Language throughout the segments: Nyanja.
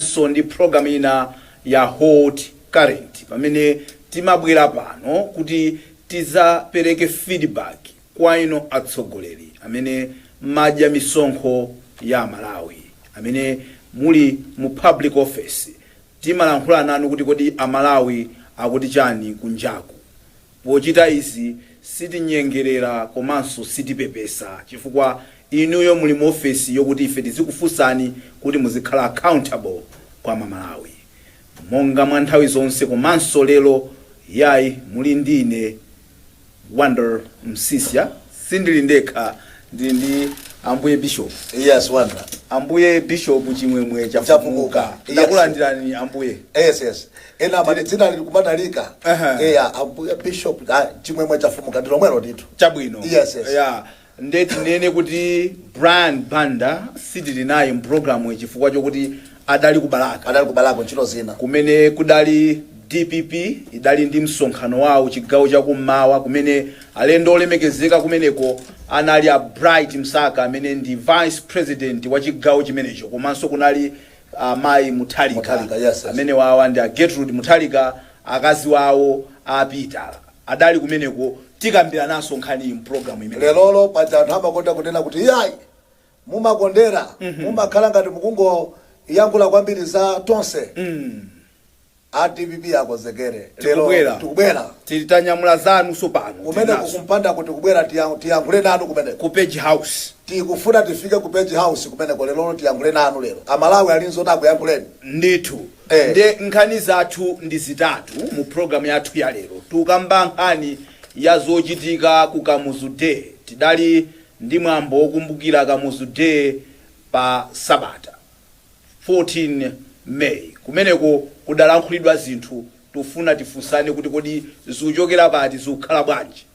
so ndi program ina ya hot current pamene timabwela pano kuti tizapeleke feedback kwainu atsogoleri amene mumadya misonkho ya amalawi amene muli mu public office timalankhula nanu kuti kodi amalawi akuti chani kunjaku Pochita izi, sitinyengerera komanso sitipepesa chifukwa inuyo muli mu ofesi yokuti ife tizikufunsani kuti muzikhala accountable kwa ma Malawi. Monga mwa nthawi zonse komanso lero yayi muli ndi ine Wonder Msiska. Sindili ndekha, ndili ndi Ambuye Bishop. Yes, wonder. Ambuye Bishop Chimwemwe Chafukuka. Chafukuka. Yes. Ndakulandirani Ambuye. Yes, yes. Ena amati dzina lili kumatalika. Aha. Eya, Ambuye Bishop ah, Chimwemwe Chafukuka ndi lomwelo ndithu. Chabwino. Yes, yes. Yeah. Nde tinene kuti Brian Banda sitili naye mpulogalamu chifukwa chokuti adali ku Balaka. adali ku Balaka ntchito zina. kumene kudali dpp idali ndi msonkhano wawo chigawo cha kummawa kumene alendo olemekezeka kumeneko anali a Bright Msaka amene ndi vice president wa chigawo chimenecho komanso kunali amayi Mutharika Mutharika, yes, yes. amenewawa ndi a Gertrude Mutharika akazi wawo a Peter adali kumeneko tikambirananso nkhaniyi mu program imeneyi. Lerolo paja anthu amakonda kunena kuti iyayi mumakondera mumakhala ngati mukungoyankhula kwambiri za tonse a dpp akonzekere lero Tikubwera. tikubwera Tili tanyamula zanu tsopano. kumeneko Tilinazo. kumpandako tikubwera tiya- tiyankhule nanu kumeneko Ku page house. tikufuna tifike ku page house kumeneko lero tiyankhule nanu lero amalawi ali nzoti akuyankhuleni ndithu Eh. nde nkhani zathu ndi zitatu mu programu yathu ya lero tikukamba nkhani ya zochitika ku kamuzu day tidali ndi mwambo wokumbukira Kamuzu Day pa Sabata, 14 May. Kumeneko kudalankhulidwa zinthu tufuna tifunsane kuti kodi zuchokera pati, zukhala bwanji?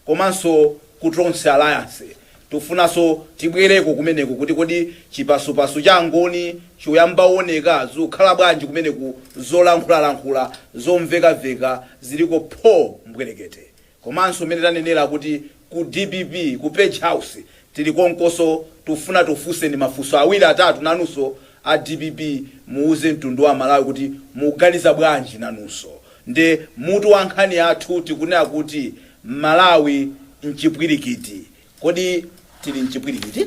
Komanso ku Tonse Alliance tufunanso tibwereko kumeneko kuti kodi chipasupasu cha Angoni chuyamba uoneka, zukhala bwanji kumeneku, zolankhulalankhula, zomvekaveka ziliko pho mbwerekete. Komanso mmene tanenela kuti ku dpp ku page house tili konkoso tufuna tikufunseni mafunso awili atatu nanuso a dpp muwuze mtundu wa amalawi kuti muganiza bwanji nanuso nde mutu wa nkhani yathu tikunena kuti malawi mchipwilikiti kodi tili mchipwilikiti?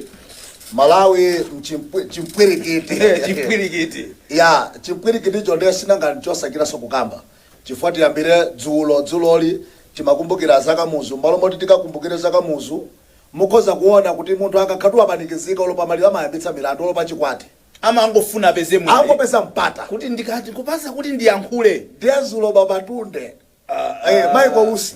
Malawi mchimpwi, chimpwilikiti, chipwilikiti. Yeah, chimpwilikiticho nde sinanga nchosachitanso kukamba. Chifukwa tiyambire dzulo dzuloli timakumbukira za Kamuzu, m'malo moti tikakumbukire za Kamuzu, mukhoza kuona kuti munthu akakhala kuti wapanikizika olo pamaliro amayambitsa milandu, olo pachikwati. Amangofuna apeze, angopeza mpata. Kuti ndikati, kundipatsa kuti ndiyankhule. Ndiye dzulo Baba Tunde, ah, eh, Michael Usi.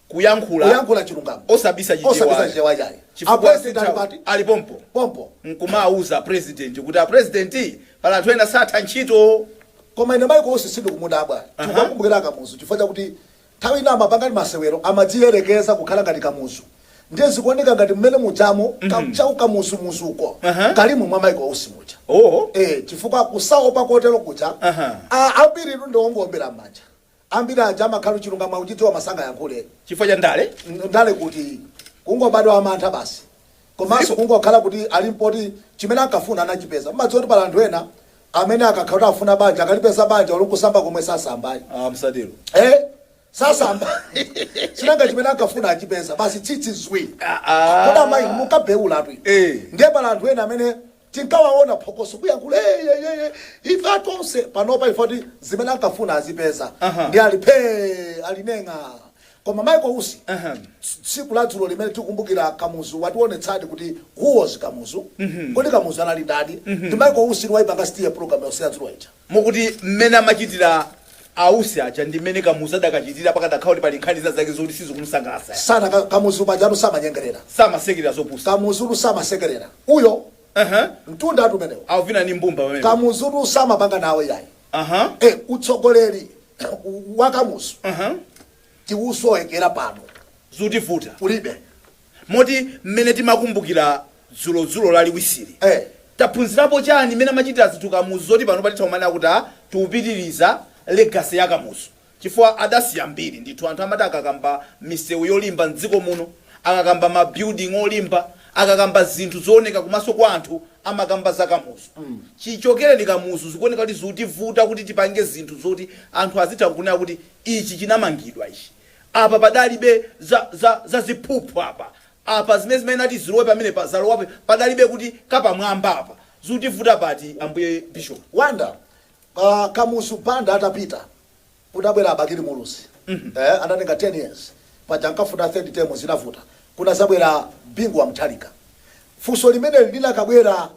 Kuyankhula kuyankhula chilungamo osabisa chichewa osabisa ayi chichewa chayi a chifukwa president sali patali ayi ali pompo pompo nkumawauza a president kuti a president pali anthu ena satha ntchito. koma ine Michael Usi sindikumudabwa Aha. tikukakumbukira akamuzu chifukwa chakuti nthawi ina amapanga ndi masewero amadziyerekeza kukhala ngati kamuzu ndiye zikuoneka ngati mmene mujamo ka- chau kamuzumuzuko Aha. kalimo mwa Michael Usi muja Oh. eh chifukwa kusaopa kotero kuja Aha. a- ambiri inu ndi owombera m'manja Ambiri aja amakhala chilungamo akuchidziwa koma sangayankhule. chifukwa cha ndale. ndale kuti? kungobadwa wamantha basi. komanso Zilipo. kungokhala kuti alipo oti chimene ankafuna anachipeza. Mumadziwa kuti pali anthu ena amene akakhala kuti akufuna banja akalipeza banja olo nkusamba komwe sasamba ayi. Ah, msatero. Eh? Sasamba. Sinanga chimene ankafuna achipeza. Basi tsitsi zwi. Ah, ah. Kodi amayi inu munkabheulatu inu. Eh. Ndiye pali anthu ena amene Tinkawaona phokoso kuyankhula eyeyeye ife a Tonse panopa chifukwa kuti zimene ankafuna azipeza Aha. ndiye ali phee ali neng'a koma Michael Usi Aha. ts- tsiku la dzulo limene tikukumbukira Kamuzu wationetsadi kuti who was Kamuzu kodi Kamuzu anali ndani ndi Michael Usi ndiye waipanga steal program yonse ya dzulo ija Mukuti mmene amachitira a Usi aja ndi mmene Kamuzu adakachitira pakadakhala kuti pali nkhani zina zake zoti sizikumusangalatsa ya. Sanaka, Kamuzu pajatu samanyengerera. Samasekerera zopusa. Kamuzutu samasekerera. Uyo Uh-huh. mtundatu umenewo. Akuvina ndi mbumba pamene. Kamuzutu samapanga nawo yayi. Uh-huh. Eh, utsogoleri wa Kamuzu Uh-huh. tikusowekera pano Zikutivuta. kulibe. Moti mmene timakumbukira dzulo dzulo lachiwirili Eh. taphunzirapo chani mmene amachitira zinthu Kamuzu zoti panopa titha kumanena kuti ah, tikupitiriza legacy ya Kamuzu chifukwa adasiya mbiri ndithu anthu amati akakamba misewu yolimba mdziko muno, akakamba ma building olimba, akakamba zinthu zooneka kumaso kwa anthu amakamba za Kamuzu. Chichokereni Kamuzu zikuoneka kuti zikutivuta kuti tipange zinthu zoti anthu azitha kunena kuti ichi chinamangidwa ichi. Apa padalibe za, za, za ziphuphu apa. Apa zimene zimayenera kuti zilowe pamenepa zalowapo, padalibe kuti kapamwamba apa. Zikutivuta pati, Ambuye Bishop? Wonder, Kamuzu Banda atapita, kunabwera a Bakili Muluzi, eh, anatenga 10 years, paja ankafuna third term zinavuta, kunazabwera Bingu wa Mutharika. Funso limeneli linakabwera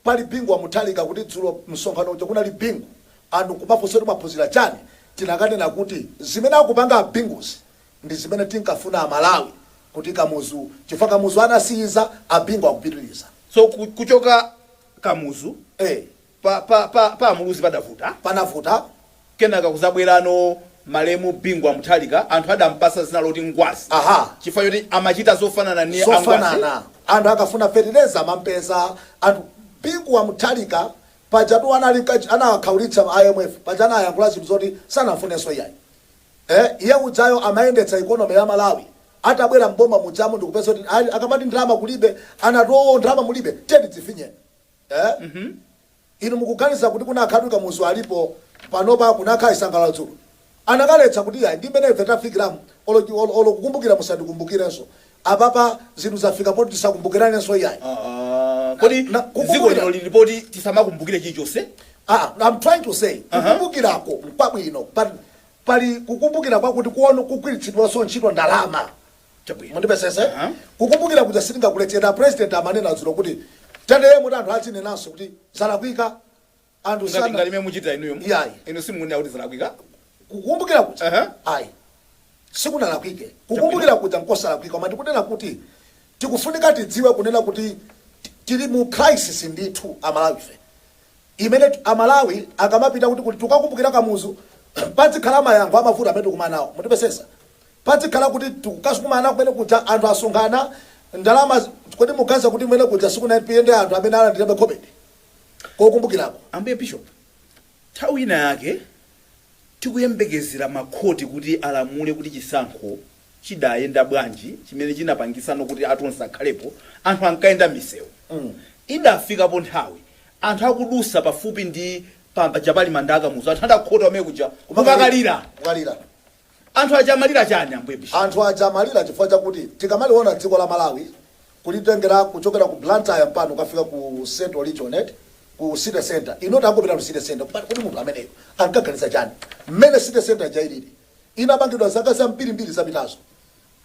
Pali Bingu wa Mutharika kuti dzulo msonkhano uja kunali Bingu and nkumafunsa kuti mwaphunzira chani? Tinakanena kuti zimene akupanga a Binguzi ndi zimene tinkafuna a Malawi kuti Kamuzu chifukwa Kamuzu anasiyiza, a Bingu akupitiliza. So kuchoka Kamuzu Eh. pa pa pa pa Muluzi padavuta? Panavuta. Kenaka kuzabwerano malemu Bingu wa Mutharika anthu adampasa zina loti Ngwazi Aha. chifukwa choti amachita zofanana ndi a Ngwazi. zofanana anthu akafuna fetereza amampeza anthu Bingu wa Mutharika pajatu anali kacha anawakhaulitsa ma IMF paja anayankhula zinthu zoti sanafuneso iyayi eh iye ujayo amayendetsa economy ya Malawi atabwera m'boma mujamu ndikupeza kuti ayi akamati ndalama kulibe anati oo ndalama mulibe tiyeni tifinyeni eh Inu mukuganiza kuti kunakakhala kuti Kamuzu alipo panopa kunakakhala chisangalalo dzulo? Anakaletsa kuti iyayi ndi mmene ife tafikiramu olo olo kukumbukira musandikumbukirenso. Apapa zinthu zafika poti tisakumbukiranenso iyayi. Aaa kodi Na- dziko kukumbukira- lino lili poti tisamakumbukire chilichonse? Ah, I'm trying to say kukumbukirako nkwabwino but pali kukumbukira kwakuti kuona kugwiritsidwanso ntchito ndalama. Chabwino. mundimvetsetse Aha. kukumbukira kuja sitingakuletseni a president amanena dzulo kuti tiyenera kuti anthu adzinenanso kuti zalakwika anthu ngati sana ngati momwe muchitira inuyo Iyayi. inu simukunena kuti zalakwika kukumbukira kuja Aha. ayi sikunalakwike kukumbukira kuja nkosalakwika koma tikunena kuti tikufunika tidziwe kunena kuti ti- tili mu crisis ndithu aMalawife imene t- aMalawi akamapita kuti kuti tikukakumbukira Kamuzu pazikhala mayankho a mavuto amene tikukumana nawo mutimvetsetse Pazikhala kuti tikukakumana kumene kuja anthu asonkhana ndalama kodi mukuganiza kuti kumene kuja sikunapite anthu amene alandirabe khobidi kokumbukirako? Ambuye Bishop, nthawi ina yake tikuyembekezera ma khoti kuti alamule kuti chisankho chidayenda bwanji chimene chinapangitsano kuti a Tonse akhalepo, anthu ankayenda mmisewu. Idafikapo nthawi anthu akudutsa pafupi ndi paja pali manda a Kamuzu anthu adakhota kumene kuja kukakalira! Anthu aja amalira chani Ambuye bishop. Anthu aja amalira chifukwa chakuti tikamaliona dziko la Malawi kulitengera kuchokera ku Blantyre mpaka kukafika ku central region eti, ku city centre ino tangopitani ku city centre kupangani kodi munthu ameneyu ankaganiza chani mmene city centre ija ilili inamangidwa zaka zambirimbiri zapitazo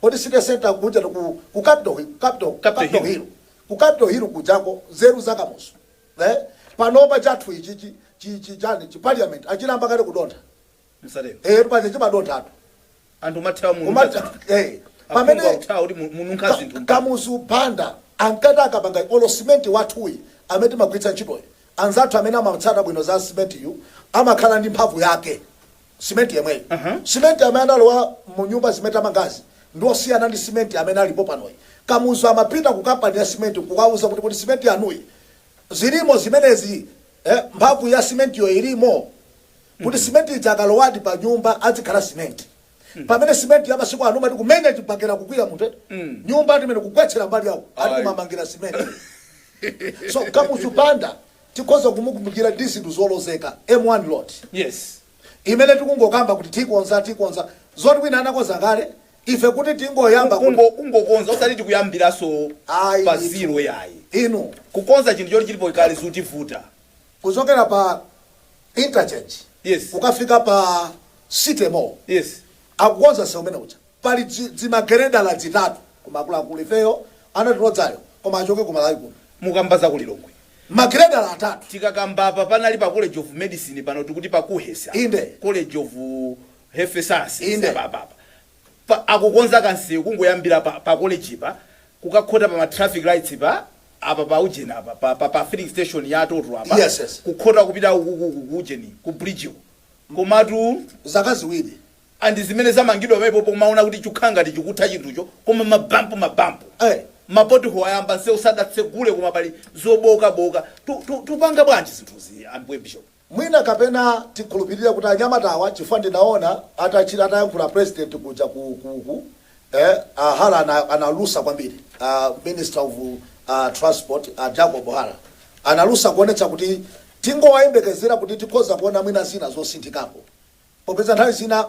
kodi city centre kujatu ku ku capital hi- capital ku Capital capital Hill. hill ku capital hill kujako nzeru za Kamuzu eh panopa chathu ichichi chi chi chani chi parliament chayamba kale kudontha Msatero. Eh, paja chimadonthatu. Anthu mumathawa mu Umatha- nyumba zanthu. eh, Aphungu pamene- akuthawa kuti mu- mununkha Ka- zinthu. Kamuzu Banda ankati akapanga olo simenti wathuyi amene timagwiritsa ntchitoyi anzathu amene amatsata bwino za simentiyu amakhala ndi mphamvu yake simenti yemweyi Aha. simenti amene analowa mu nyumba zimene tamangazi ndi osiyana ndi simenti amene alipo panoyu Kamuzu amapita ku kampani ya simenti kukawauza kuti kuti simenti yanuyi zilimo zimenezi Eh mphamvu ya cement yo ilimo? Kuti cement ija akalowadi pa nyumba adzikhala cement? Pamene cement ya masiku ano umati kumenya chibakera kugwira munthu eti? Nyumba ati imene kugwetsera mbali ya uko ati Ayi. kumamangira cement. So Kamuzu Banda tikhoza kumukumbukira ndi zinthu zolozeka M1 road. Yes. imene tikungokamba kuti tikonza tikonza zoti wina anakonza kale Ife kuti tingoyamba ku. kungo, kungokonza, osati tikuyambiranso Ayi, pa ndithu. zero yayi. Inu. Kukonza chinthu choti chilipo kale zikutivuta. kuchokera pa interchange Yes. kukafika pa city mall Yes. akukonza nsewu umene uja pali dzi- dzimagiredala dzitatu koma akuluakulu ifeyo ana timadzayo koma achoke ku Malawi kuno Mukamba za ku Lilongwe. magiredala atatu Tikakamba apa panali pa College of Medicine pano tikuti pa KUHeS. Inde. College of Health Sciences Inde. apa apa apa. Pa, akukonza kansewu kungoyambira pa, pa college pa kukakhota pa ma traffic lights pa apa pa ujeni apa pa, pa, pa filling station ya Total apa Yes, yes. kukhota kupita uku- uku- uku- ku ujeni ku bridge ku komatu zaka ziwiri andi zimene zamangidwa pamenepo pomaona kuti chukhala ngati chikutha chinthucho koma mabampu mabampu Eh. ma pothole ayamba nsewu sadatsegule koma pali zobokaboka Tu- tu- tupanga bwanji zinthuzi anthu a bishop Mwina kapena tikhulupilire kuti anyamatawa chifukwa ndinaona atachita atayankhula president kuja ku ku ku eh a Hara ana analusa kwambiri a minister of transport a Jacob Hara analusa kuonetsa kuti tingowayembekezera kuti tikhoza kuona mwina zina zosinthikapo Popeza nthawi zina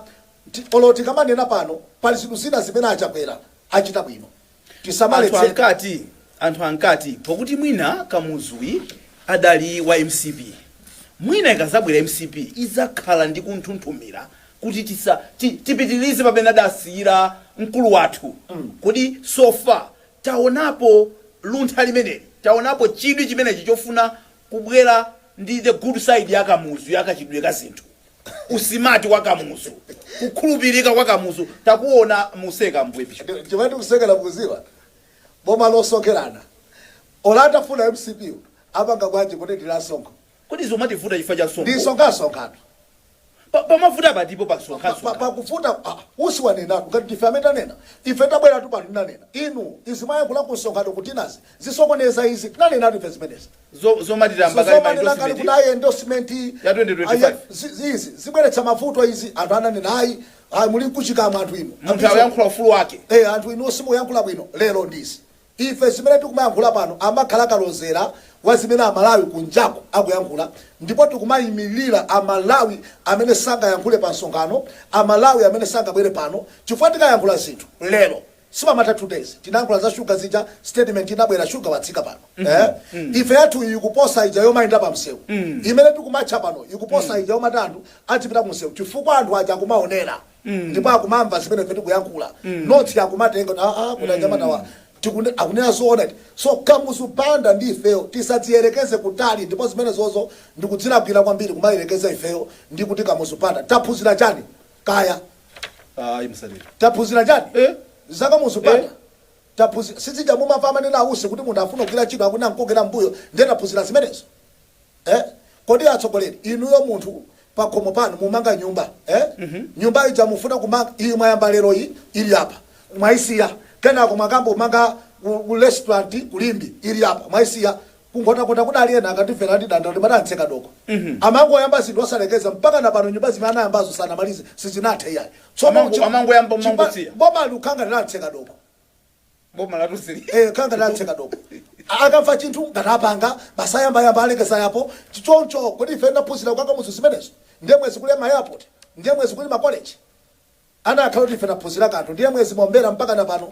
olo tikamanena pano pali zinthu zina zimene a Chakwera achita bwino, Anthu tisamaletse. ankati anthu ankati pokuti mwina Kamuzuyu adali wa mcp mwina ikazabwera mcp izakhala ndi kunthunthumira kuti tisa ti tipitilize pamene adasiyira mkulu wathu kodi so far taonapo luntha limeneli taonapo chidwi chimenechi chofuna kubwera ndi the good side ya Kamuzu ya kachitidwe ka zinthu usilikali wa kamuzu kukhulupirika kwa kamuzu tikuona museka mbwepi chimati kusekela mukudziwa boma losekerana olo atafuna mcp apanga bwanji kuti ndilasonkho kodi zomativuta chifukwa cha nsongo ndisonkhasonkhato Pa- pamavuta patipo pa nsonkhasonga pakufuka utsi wanenatu ngati ndife amene tanena ife tabweratu pano tinanena inu izi mwayankhula ku msonkhano kuti nazi zisokoneza izi tinanenatu ife zimenezi Zo- zomatira So- mbakali zomanena ngati kuti maendorsement ayi endorsement iyi, Ya 2025. ayi, ya- zi- zi- izi zibweretsa mavuto izi anthu ananena ayi ayi muli kuchikamwa anthu inu munthu akuyankhula ufulu wake Eh, anthu inu simukuyankhula bwino lero ndizi ife zimene tikumayankhula pano zimakhala kalozera wa zimene amalawi kunjako akuyankhula ndipo tikumayimirira amalawi amene sangayankhule pa msonkhano amalawi amene sangabwere pano chifukwa tikayankhula zinthu lero sipamatha 2 days tinayankhula za sugar zija statement inabwera sugar watsika pano eeh ife yathuyi ikuposa ija yomayenda pa msewu imene tikumatcha pano ikuposa ija yomati anthu adzipita ku msewu chifukwa anthu aja akumaonera ndipo akumamva zimene ife tikuyankhula ndipo akumatenga kuti aa kuti anyamatawa tikunde- akunena zoona iti so kamuzu banda ndi ifeyo tisadziyerekeze kutali ndipo zimenezozo ndikudzilakwira kwambiri kumayerekeza ifeyo ndi kuti kamuzu banda taphunzira chani kaya ayi taphunzira chani Eh? zaka muzipanga Eh? taphunzira sizija mumamva amanena awusi kuti munthu afuna kugwira ntchito akumamukokera mbuyo ndiye taphunzira zimenezo eh? kodi atsogoleri inuyo munthu pakhomo panu mumanga nyumba eh? nyumba ija mufuna kumanga iyi mwayamba lero iyi ili apa mwaisiya kenako mwakayamba kumanga ku- ku restaurant ku Limbe ili apa mwaisiya Ku Nkhotakota kudali ena akatifera ndi anda ankati atseka doko. Amangoyamba zinthu osalekeza mpakana pano nyumba zimene anayambazo sanamalize sizinathe iyayi. Tsono Amango- chi- amangoyamba, chipa- amangosiya. Boma likukhala ngati la atseka doko. boma la Rusi li- Eh, khala ngati la atseka doko. A- Akamva chinthu ngapanga basi ayambayamba alekeza apo. Ch- Choncho kodi ife tinaphunzira kwa Kamuzu zimenezi? Ndiye bwenzi kuli ma airport? Ndiye bwenzi kuli makoleji? Anakakhala kuti ife tinaphunzira kanthu ndiye bwenzi mombera mpaka na pano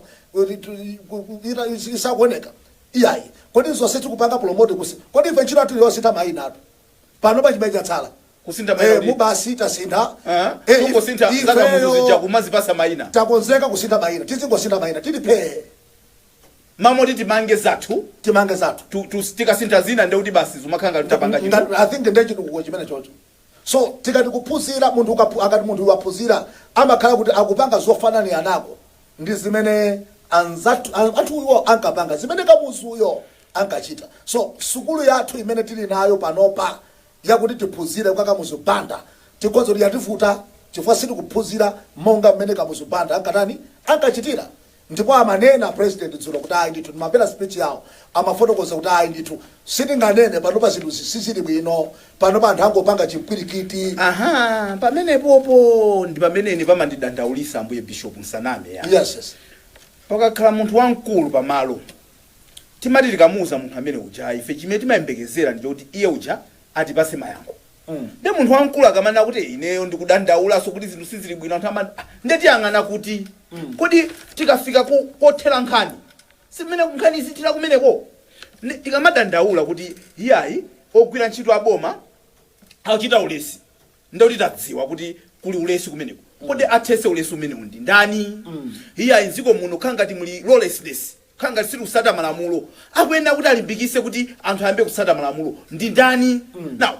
sikuoneka iyayi kodi zonse tikupanga promote kusi kodi ife ntchito yathu yosintha maina ati panopa chimene chatsala kusintha maina ee kuti basi tasintha aa ee ife kungosintha za kamuzu ifeyo zija kumazipasa maina takonzeka kusintha maina tizingosintha maina tili phee m'malo moti timange zathu timange zathu tu, tu, tikasintha zina ndekuti basi zimakhala ngati tapanga chinthu ngati i think nde chitukuko chimene chocho So tikati kuphunzira, munthu ukaphu, akati munthu uyu waphunzira amakhala kuti akupanga zofananianako ndi zimene anzathu, a, anthuwo ankapanga, zimene Kamuzuyo ankachita. So sukulu yathu imene tili nayo panopa yakuti tiphunzire kwa Kamuzu Banda tikuona kuti yativuta chifukwa sitikuphunzira monga mmene Kamuzu Banda ankatani, ankachitira. Ndipo amanena president dzulo kuti ayi ndithu ndimamvera speech yawo amafotokoza kuti ayi ndithu sitinganene panopa zinthuzi sizili bwino panopa anthu angopanga chimpwirikiti. Aha, pamenepopo ndi pamene ine pamandidandaulisa Ambuye Bishop musaname ya. Yes, yes. Pakakhala munthu wamkulu pamalo timati tikamuuza munthu amene uja ife chimene timayembekezera ndi choti iye uja atipase mayankho. Nde munthu wamkulu akamanena kuti ineyo ndikudandaulaso kuti zinthu sizili bwino anthu amati ah nde tiyang'ana kuti? Kodi tikafika kothera nkhani si nde nkhani izithera kumeneko? Nde tikamadandaula kuti iyayi ogwira ntchito a boma akuchita ulesi nde kuti tadziwa kuti kuli ulesi kumeneko. Kodi athetse ulesi umenewo ndi ndani? Iyayi m'dziko muno kukhala ngati muli lawlessness. khala ngati sitikutsata malamulo akuyenera kuti alimbikise kuti anthu ayambe kutsata malamulo ndi ndani now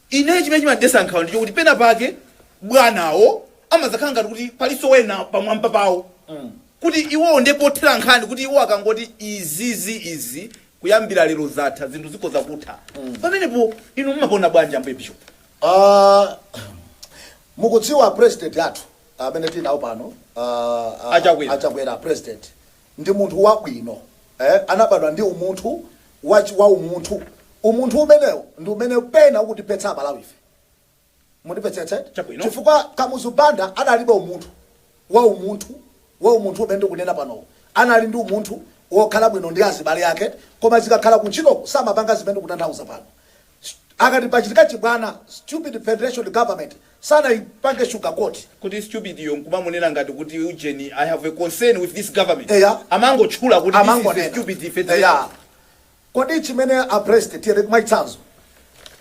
ine chimene chimandidetsa nkhawa ndichokuti pena pake bwanawo amadzakhala ngati kuti palinso wena pamwamba pawo kuti iwowo nde pothera nkhani kuti iwo akangoti izizi izi kuyambira lero zatha zinthu zikhoza kutha pamenepo inu mumaona bwanji ambuye bishop Ah, mukudziwa president athu amene tinawo pano ah, ah, Achakwera. achakwera president ndi munthu wabwino, eh, anabadwa ndi umunthu wa, wa umunthu. Umunthu umenewo ndi umene pena ukutiphetsa Amalawife. Mundimvetsetse, eti? Chabwino. Chifukwa Kamuzu Banda analibe umunthu wa umunthu, wa umunthu umene ndikunena panowu. Anali ndi umunthu wokhala bwino ndi azibale ake, koma zikakhala kuntchitoko samapanga zimene ndikutanthauza pano. St akati pachitika chibwana stupid federation government sanaipange sugar coat. Kuti stupid yo nkumamunena ngati kuti ujeni I have a concern with this government Eya. amangotchula kuti this is a Amangonena. stupid Eya. federation. Kodi chimene a president tiyeni mwachitsanzo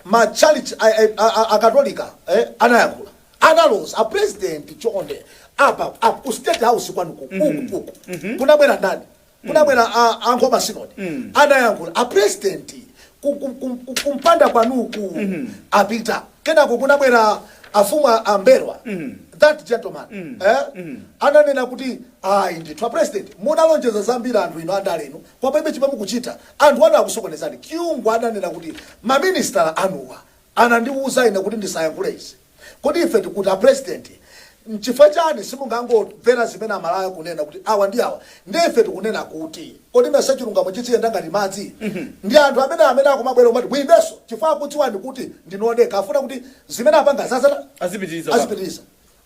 matchalitchi a, a, a, a, akatolika eh, anayankhula analoza a president chonde apa apa ku state house kwanuko uku uku kunabwera ndani kunabwera a a nkhoma sinodi anayankhula a president ku- ku- ku- ku- kumpanda kwanuku apita kenako kunabwera afumu a- a mbelwa that gentleman eh, ananena kuti ayi ndithu a president munalonjeza zambiri anthu inu andale inu koma palibe chimene mukuchita anthu anu akusokonezani kyungu ananena kuti maministala anuwa anandiwuza ine kuti ndisayankhule izi Kodi ife tikuti a president nchifukwa chani simungangomvera zimene amalawi akunena kuti awa ndi awa ndiye ife tikunena kuti kodi mesa chilungamo chidziyenda ngati madzi ndi anthu amene amene akumabwera kumati muimenso chifukwa akudziwani kuti ndinu odekha afuna kuti zimene apangazi adzathe Azipitiriza bwana. azipitiliza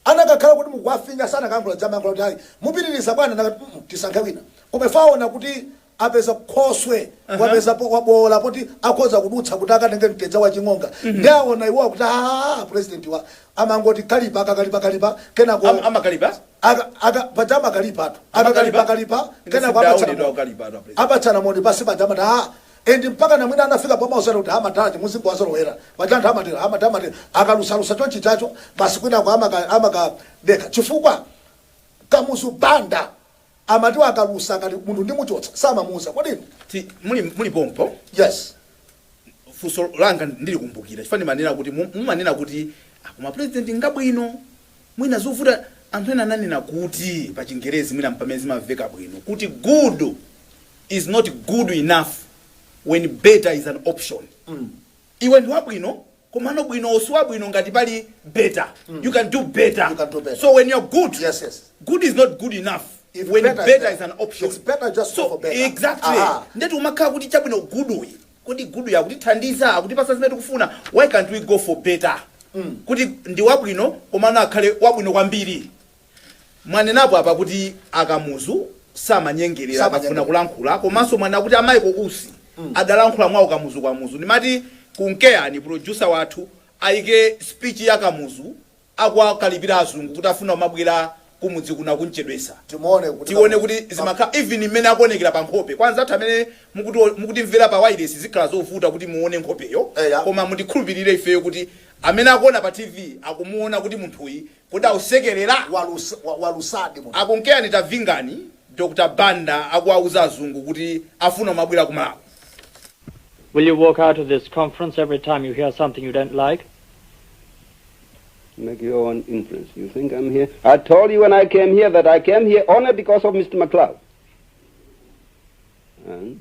akanakhala kuti mukuwafinya sanakayankhula samayankhula kuti ayi mupitiliza bwana anakati mm tisankhe wina koma iwo aona kuti apeza khoswe, wapeza, waboola poti akhoza kudutsa kuti akatenge mtedza wa chimanga, nde aona iwowa kuti aah presidentiwa. amangoti kalipa, akakalipa kalipa, kenako. Am, amakalipa? Aka, aka, paja amakalipatu, Amakalipa? akakalipakalipa Ine kenako apatsana sindinaonepo moni, kukalipatu a president. apatsana moni pansi paja amati aah, and mpakana mwina anafika pomawuzana kuti ha madala aja muzingowazolowera, paja anthu amatero, ha madala amatero, akalusalusa chonchichacho basi kwinako amaka, amakadekha chifukwa Kamuzu Banda. Amati akalusa ngati munthu ndi kumuchotsa samamuuza kodi inu. Ti, muli, muli pompo? Yes. Funso langa ndilikumbukira chifukwa ndimanena kuti mu- mumanena kuti ah, koma president ngabwino mwina zovuta anthu ena ananena kuti pa chingerezi mwina mpamene zimamveka bwino kuti good is not good enough when better is an option Iwe ndi wabwino komano wabwinowo siwabwino ngati pali better you can do better so when you're good good is not good enough when better is an option so exactly nde tikumakhala kuti chabwino good uyu kodi good uyu akutithandiza akutipasa zimene tikufuna why can't we go for better kuti ndi wabwino komano akhale wabwino kwambiri. Mwanenapo apa kuti a Kamuzu samanyengelera akafuna Samanyengelera. kulankhula komanso mwanena kuti a Michael Usi adalankhula mwa ukamuzukamuzu. Ndimati mkutheka producer wathu ayike speech ya Kamuzu akuwakalipira azungu kuti akufuna kumabwera kumudzi kuno akumuchedwetsa. Timuone kuti Tione kuti Kamuzu- zimakhala even mmene akuonekera pa nkhope. Kwa anzathu amene mukutimvera pa wireless zikhala zovuta kuti muone nkhopeyo Eya. koma mutikhulupirire ifeyo kuti amene akuona pa TV akumuona kuti munthuyi Kodi ausekelera? Walusadi munthu. Akunkeyani tavingani Dr Banda akuwauza azungu kuti afuna kumabwela ku Malawi. Will you walk out of this conference every time you hear something you don't like? Make your own inference. You think I'm here? I told you when I came here that I came here only because of Mr. McLeod. And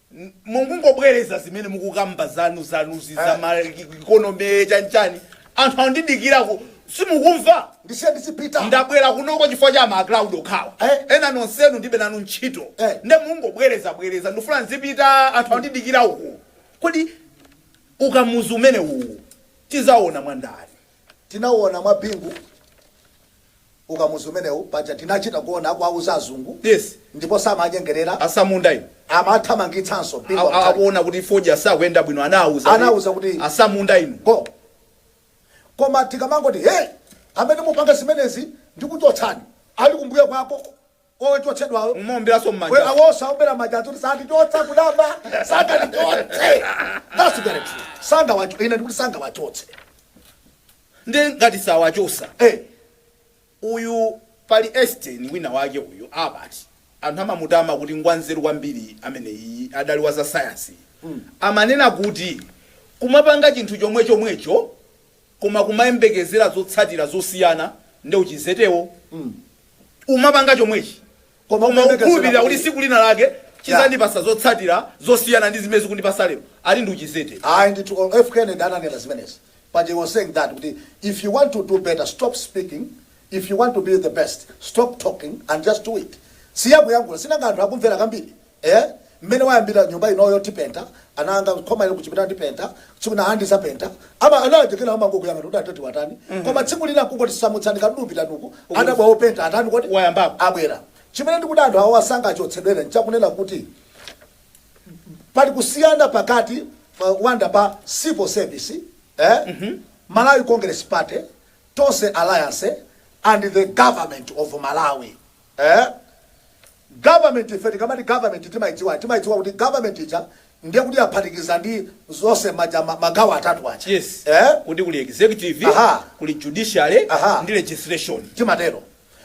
mukungobwereza zimene mukukamba zanu zanuzi za ma economy chanchani anthu andidikira uku simukumva ndisiyeni ndizipita ndabwera kunoko chifukwa cha ma crowd okhawa Eh. ena nonsenu ndilibe nanu ntchito Eh. nde mungobwereza bwereza ndifuna nzipita anthu andidikira uku kodi ukamuzu umene uwu tizaona mwandani tinauona mwa bingu ukamuzu umenewu paja tinachita kuona akuwauza azungu Yes. ndipo samanyengerera asamunda inu amathamangitsanso mzungu A- a- wamtali. akuona kuti fodya sakuyenda bwino anawauza Anawauza kuti- asamunda inu go koma tikamangoti hey amene mupanga zimenezi ndikuchotsani ali kumbuyo kwake ochotsedwawo Mumaomberanso m'manja. were worse aomba manja adziwa kuti sandichotsa kuyamba sangandichotse that's very true sangawacho ine ndikuti sangawachotse Ndiye ngati sawachotsa. eh Uyu pali Einstein wina wake uyu Albert. Anthu amamutama kuti ngwanzeru kwambiri amene iyi adali wa za sayansi. Ananena kuti kumapanga chinthu chomwe chomwecho koma kumayembekezera zotsatira zosiyana nde uchizetewo umapanga chomwecho Koma koma ukuyembekezera ukhulupilira kuti kuti- tsiku lina lake chizandipasa zotsatira zosiyana ndi zimene zikundipasa lero ati ndi uchizete ayi ndithu o- f kennedy ananena zimenezi but he was saying that kuti if you want to do better stop speaking if you want to be the best stop talking and just do it siyakuyankhula sinanga anthu akumvera kambirimbiri Eya, mmene wayambira nyumba inoyo tipenta, ana anga khoma ili kuchipinda ndipenta, tsiku lina ndizapenta. Koma ana aja kena amangokuyang'ana kuti adadi watani. Koma tsiku lina kungoti samutsani katundu pitani uku, adabwa openta atani kodi? Wayambako. Abwera. Chimene ndikuti anthu awawa sangachotsedwere nchakunena kuti pali kusiyana pakati pa wonder pa civil service, eh, Malawi Congress Party, Tonse Alliance and the government of Malawi. Eh? Government ife tikamati government timadziwa timadziwa kuti government ija ndiye kuti yaphatikiza ndi zonse aja ma, magawo atatu aja yes eh kuti kuli executive Aha. kuli judiciary Aha. ndi legislature timatero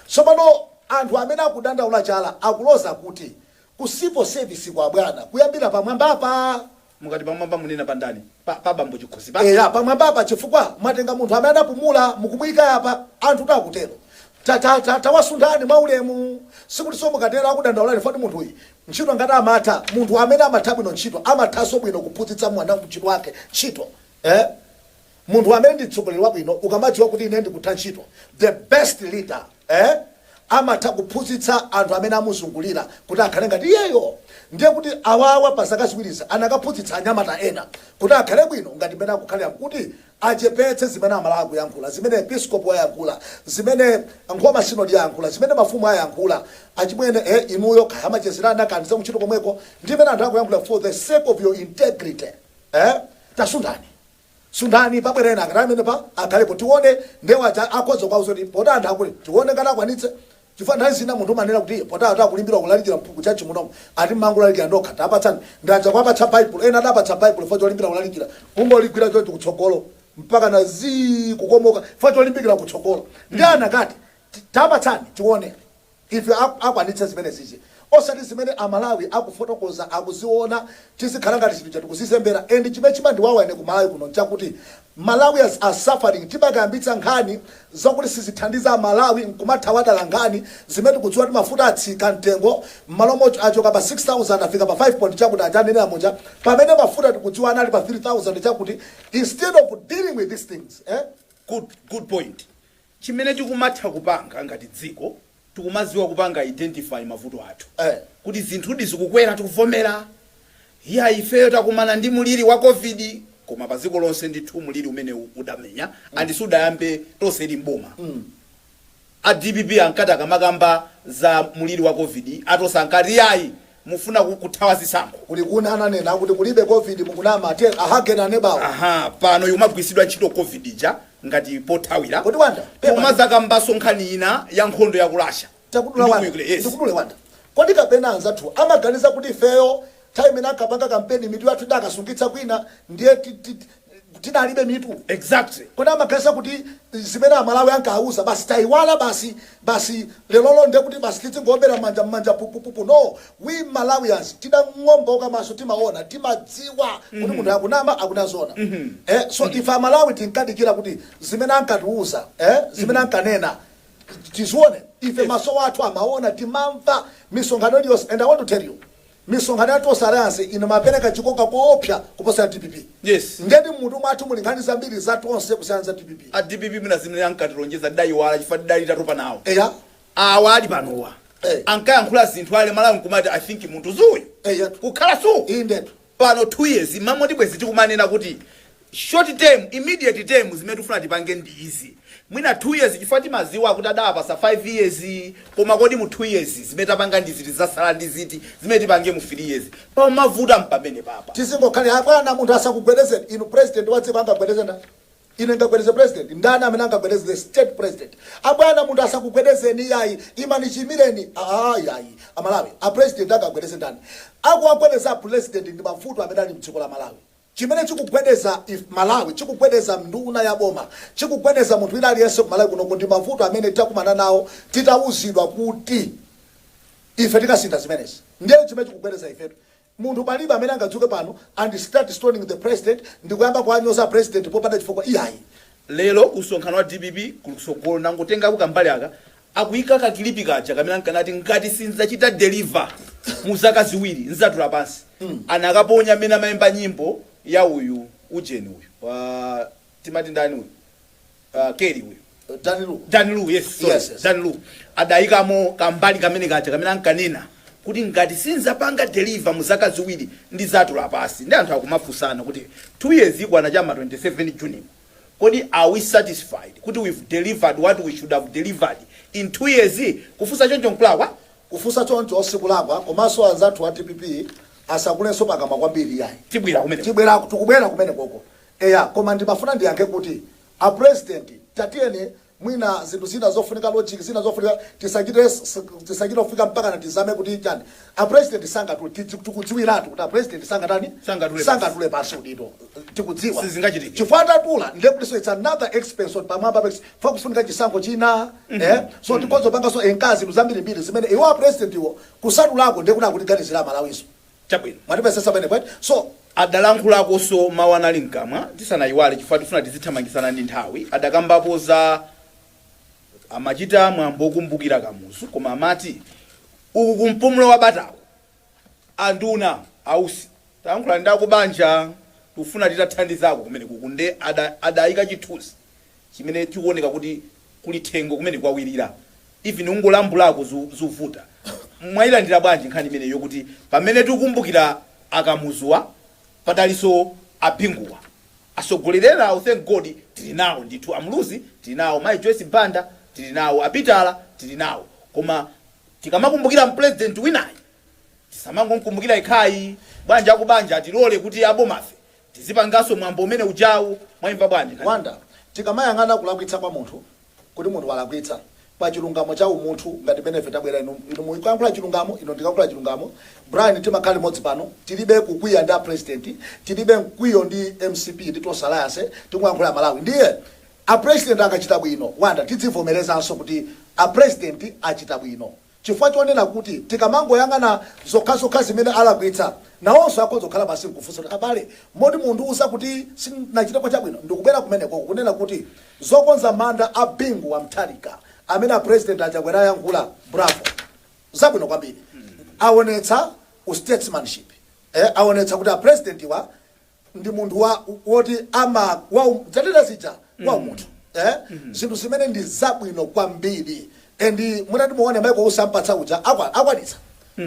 tsopano anthu amene akudandaula chala akuloza kuti ku civil service kwa bwana kuyambira pamwambapa Mukati pamwamba munena pa ndani? Pa pa bambo chikhosi pa? Eya pamwambapa chifukwa mwatenga munthu amene anapumula mukumuika apa anthutu akutero ta ta ta tawasunthani mwa ulemu sikutinso mukatero akudandaulani foti munthuyi ntchito ngati amatha munthu amene amatha bwino ntchito amathanso bwino kuphunzitsa mwanantchito wake ntchito eh Munthu amene ndi mtsogoleri wabwino ukamadziwa kuti ine ndikutha ntchito the best leader eh amatha kuphunzitsa anthu amene amuzungulira kuti akhale ngati iyeyo ndiye kuti awawa pa zaka ziwirizi anakaphunzitsa anyamata ena kuti akhale bwino ngati mmene akukhalira nkuti achepetse zimene amalawi akuyankhula zimene episcopal yayankhula zimene nkhoma synod yayankhula zimene mafumu ayankhula achimwene eh inuyo kaya amachezera ana kaya zakuntchito komweko ndi zimene anthu akuyankhula for the sake of your integrity eh tasunthani. sunthani pabwere ena akatani pamenepa akhalepo tione ndiye waja akhoza kwauza kuti poti anthu akule tione ngati akwanitse chifukwa nthawi zina munthu umanena kuti poti anthu akulimbira kulalikira mpu- kutchalitchi munomo ati mmangolalikira ndokha tapatsani ndi aja kuwapatsa baibulo ena adapatsa baibulo fo cholimbira kulalikira kungoligwira chonchi kutsogolo mpaka na zii kukomoka fo cholimbikira kutsogolo ndi anakati ti- tapatsani tione Ife akwanitse zimenezizi osati zimene amalawi akufotokoza akuziona tizikhala ngati zinthu zija tikuzizembera and chimene chimandiwawa ine kumalawi kuno nchakuti malawians are suffering timakayambitsa nkhani zokuti sizithandiza amalawi nkumathawa dala nkhani zimene tikudziwa kuti mafuta atsika mtengo mmalo mot achoka pa 6000 afika pa 5 point chakuti aja anenera muja pamene mafuta tikudziwa anali pa 3000 chakuti instead of dealing with these things eh? Good good point chimene tikumatha kupanga ngati dziko tikumaziwa kupanga identify mavuto athu kuti zinthudi zikukwera tikuvomera iyayi ifeyo takumana ndi muliri wa covid koma pa dziko lonse ndithu muliri umenewu udamenya and isanayambe tonse ili m'boma a dpp ankati akamakamba za muliri wa covid a tonse ankati iyayi Mufuna ku kuthawa zisankho? Kulikuni ananena kuti kulibe covid mukunama tell again anebawo. Ahaa pano ikumagwiritsidwa ntchito covid ija ngati pothawira Kodi Wanda? Pepa ndi. pomazakambanso nkhani ina ya nkhondo ya ku Russia Takudula ndi ku Wanda. Ukra yes. Ndikudule Wanda. Kodi kapena anzathuwa amaganiza kuti ifeyo nthawi imene ankapanga kampeni mitu yathu tidakaisungitsa kwina ndiye ti- ti- tidalibe mitu exactly kodi amaganiza kuti zimene amalawi ankauzidwa basi taiwala basi basi lerolo nde kuti basi tidzingoombera mmanja mmanja pupupupu no we malawians tidang'ambika maso timaona timadziwa kuti munthu akunama akunena zoona eh so ife amalawi tinkadikira kuti zimene ankatiuza eh zimene ankanena tizione ife maso athu amaona timamva misonkhano iliyonse and i want to tell you Misonkhano ya Tonse Alliance inkapereka chikoka koopsa kuposa ya dpp. Yes. Ndiyedi mmutu mwathu muli nkhani zambiri za Tonse kusiyana ndi za dpp. A dpp mwina zimene ankatilonjeza tidaiwala chifukwa tidali tatopa nawo. Eya. Awa ali panowa Eh. ankayankhula zinthu Amalawi nkumati I think munthu si uyu. Eyatu. Kukhala suu. Indetu. Pano 2 years mmangoti bwezi tikumanena kuti short term, immediate term zimene tikufuna tipange ndi izi mwina 2 years chifukwa timaziwa kuti adawapasa 5 years koma kodi mu 2 years zimene tapanga ndi ziti zasala ndi ziti zimene tipange mu 3 years pamavuta mpamene papa. Tizingokhalira abwana munthu asakugwedezeni inu president wa dziko angagwedeze ndani? Ine ndingagwedeze president? Ndani amene angagwedeze the state president? Abwana munthu asakugwedezeni iyayi imani chiyimireni aah iyayi amalawi a president angagwedeze ndani? Akuwagwedeza a pulezidenti ndi mavuto amene ali mdziko la Malawi. chimene chikugwedeza ife aMalawi, chikugwedeza nduna ya boma, chikugwedeza munthu wina aliyense ku Malawi kunoku ndi mavuto amene takumana nawo titawuzidwa kuti ife tidzasintha zimenezi. Ndiye n'chimene chikugwedeza ifetu. Munthu palibe amene angadzuke pano and start stoning the president ndi kuyamba kuwanyoza a president popanda chifukwa iyayi. Lero ku msonkhano wa dpp ku tsogolo anangotengako kambali aka Akuika ka kilipi kaja kamene ankanati ngati sindidzachita deliver mu zaka ziwiri ndzatula pansi anakaponya mmene amaimba nyimbo ya uyu ujeni uyu wa timati ndani uyu uh, Kelly uyu Dan Lu. Dan Lu yes sorry Yes, yes. Dan Lu adaikamo kambali kamene kaja kamene ankanena kuti ngati sinzapanga deliver mu zaka ziwiri ndizatula pasi ndi anthu akumafunsana kuti 2 years ikwana cha m'ma 27 June Kodi are we satisfied kuti we've delivered what we should have delivered in two years? Kufunsa choncho nkulakwa? Kufunsa choncho sikulakwa komanso anzathu a dpp asatsekulenso pakamwa kwambiri iyayi. Tibwera kumeneko. Tibwera, tikubwera kumenekoko. Eya, koma ndimafuna ndiyankhe kuti a president tatiyeni. mwina zinthu zina zofunika logic zina zofunika tisachite tisachite kufika mpakana tizame kuti chani a president sangatule tidzi- tikudziwiratu kuti a president sangatani Sangatule pansi. sangatule pansi udindo tikudziwa Sizingachitike. chifukwa atatula ndiye kuti so it's another expense on pamwamba pex fa kufunika chisankho china eh so tikonze tipangenso zinthu zambirimbiri zimene iwo a president iwo kusatulako ndiye kuti akutiganizira amalawiso Chabwino. Mwatipezetsa pamenepo eti? So, adalankhulakonso mawu anali mkamwa tisanayiwale chifukwa tifuna tizithamangitsana ndi nthawi, adakambapo za amachita mwambo okumbukira Kamuzu koma amati uku ku mpumulo wa batako anduna, ausi, talankhula ndi akubanja tikufuna titathandizako kumeneku uku nde ada adayika chithunzi. chimene chikuoneka kuti kuli tchire thengo kumene kwawirira even ungolambulako zu, zuvuta mwailandira bwanji nkhani imeneyi yokuti pamene tikukumbukira akamuzuwa padalinso abinguwa atsogoleri enawo thank god tili nawo ndithu amuluzi tili nawo mayi joyce banda tili nawo a Peter tili nawo koma tikamakumbukira mpulezidenti winayu tisamangomkumbukira yekhayi bwanji akubanja atilole kuti aboma ife Tizipangaso mwambo umene ujawu mwaimva bwanji nkhani. Wonder, Tikamayang'ana kulakwitsa kwa munthu, kuti munthu walakwitsa, pa chilungamo cha umunthu ngati mmene ife tabwera inu, inu mukuyankhula chilungamo ine ndikayankhula chilungamo, Brian timakhala limodzi pano tilibe kukwiya ndi a president, tilibe mkwiyo ndi mcp ndi Tonse alliance tikungoyankhula Malawi ndiye a president akachita bwino Wonder tidzivomerezanso kuti a president achita bwino. chifukwa chonena kuti tikamangoyang'ana zokhazokha zimene alakwitsa, nawonso akhoza kukhala pansi n'kufunsa kuti, Abale, moti mundiuza kuti sindinachiteko chabwino? Ndikubwera kumenekoko kunena kuti zokonza manda a Bingu wa Mutharika amene a President a Chakwera ayankhula, bravo! Zabwino kwambiri. Awonetsa u statesmanship. Awonetsa kuti a President wa. ndi munthu woti ama wa dzanena zija wa umunthu eh zinthu zimene ndi zabwino kwambiri and mutati muone Michael Usi ampatsa uja akwa akwanitsa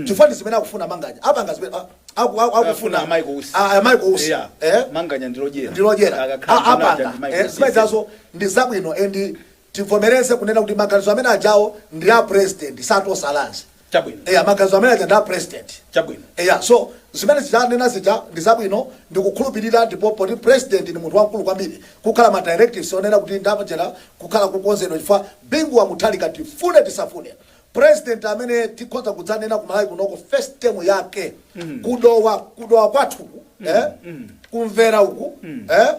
chifukwa ndi zimene akufuna manganya apanga zimene a- aku- aku- afuna akufuna a Michael Usi a- a- Michael Usi Yeah. eh manganya ndilodyera ndilodyera Akakhala anduna aja apanga ndi Michael eh, Usi. zimene zazo ndi zabwino and Tivomereze kunena kuti maganizo amene ajawo ndi a president osati a lands Chabwino. eya maganizo amene aja ndi a president Chabwino. eya so zimene zija anena zija ndi zabwino ndikukhulupirira ndipo poti president ndi munthu wamkulu kwambiri kukhala ma directives onena kuti ndi apa chiyenera kukhala kukonzedwa chifukwa Bingu wa Mutharika tifune tisafune president amene tikhonza kudzanena ku Malawi kunoko first term yake ku Dowa ku Dowa kwathuku eh kumvera uku eh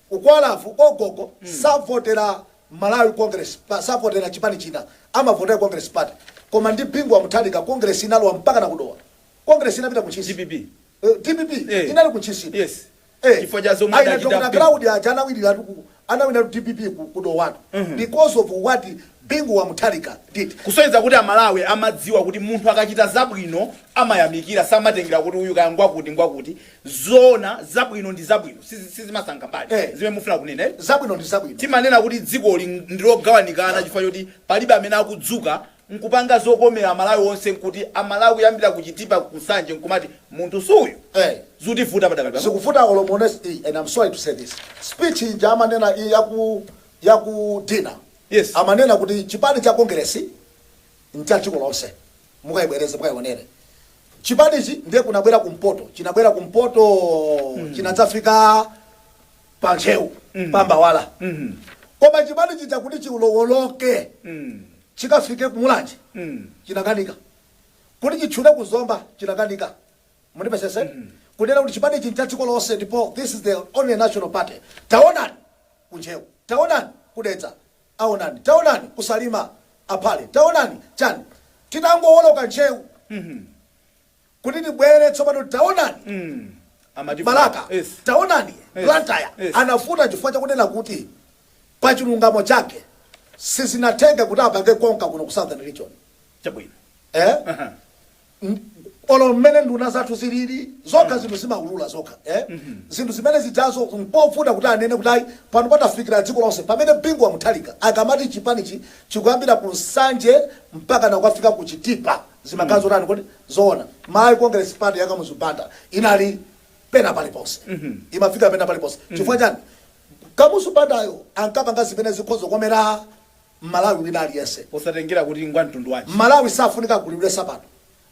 Kwathuko gogo savotera Malawi congress pa savotera chipani china amavotera congress party koma ndi Bingu wa Mutharika congress inalowa mpakana ku dowa congress inapita ku ntchisi Dpp Eh, dpp Eh. inali ku ntchisi ino. yes Eh, Chifukwa cha zomwe aina adachita Dr. Bingu. Claudia aja anawiniratu ku- anawiniratu dpp ku- ku dowatu because of what Bingu wa Mutharika did kusonyeza kuti amalawi amadziwa kuti munthu akachita zabwino amayamikira samatengera kuti uyu kaya ngwakuti ngwakuti Zoona, zabwino ndi zabwino sizisankha mbali. Eh. Zimene mufuna kunena eti? Zabwino ndi zabwino. Timanena kuti dzikoli ndilogawanikana chifukwa choti palibe amene akudzuka nkupanga zokomera Amalawi onse nkuti Amalawi kuyambira ku Chitipa ku Nsanje nkumati munthu suuyu. Eh. Zikutivuta padakali pano. Zikuvuta olo muone and I am sorry to say this speech ija amanena ija yaku yaku dinner Yes. amanena kuti chipani cha Congress ncha dziko lonse mukaibwereze mukaionere chipanichi ndiye kunabwera kumpoto chinabwera kumpoto chinadzafika pa ntcheu pa mbawala koma chipani chija kuti chiulowoloke chikafike ku Mulanje chinakanika kuti chitchule ku Zomba chinakanika mundimvetsetse kunena kuti chipani ichi ncha dziko lonse ndipo this is the only national party taonani ku Ntcheu taonani ku Dedza aonani taonani ku salima aphale taonani chani titangowoloka ntcheu kuti tibwere tsopano taonani balaka taonani blantyre anavuta chifukwa chakunena kuti pachilungamo chake sizinatheke kuti apange konka kuno ku southern region chabwino ee. M- olo mmene nduna zathu zilili zokha zinthu zimaulula zokha eh? zinthu zimene zijazo mpovuta kuti anene kuti ayi pano patafikira dziko lonse pamene bingu wa Mutharika akamati chipanichi chikuyambira ku nsanje mpaka nakukafika ku chitipa zimakhala zotani kodi zoona Malawi congress party ya kamuzu banda inali pena paliponse imafika pena paliponse chifukwa chani kamuzu bandayo ankapanga zimene zikhoza kukomera M'malawi wina aliyense. posatengera kuti ngwa mtundu wanji. M'malawi sakufunika agulilidwe sapato.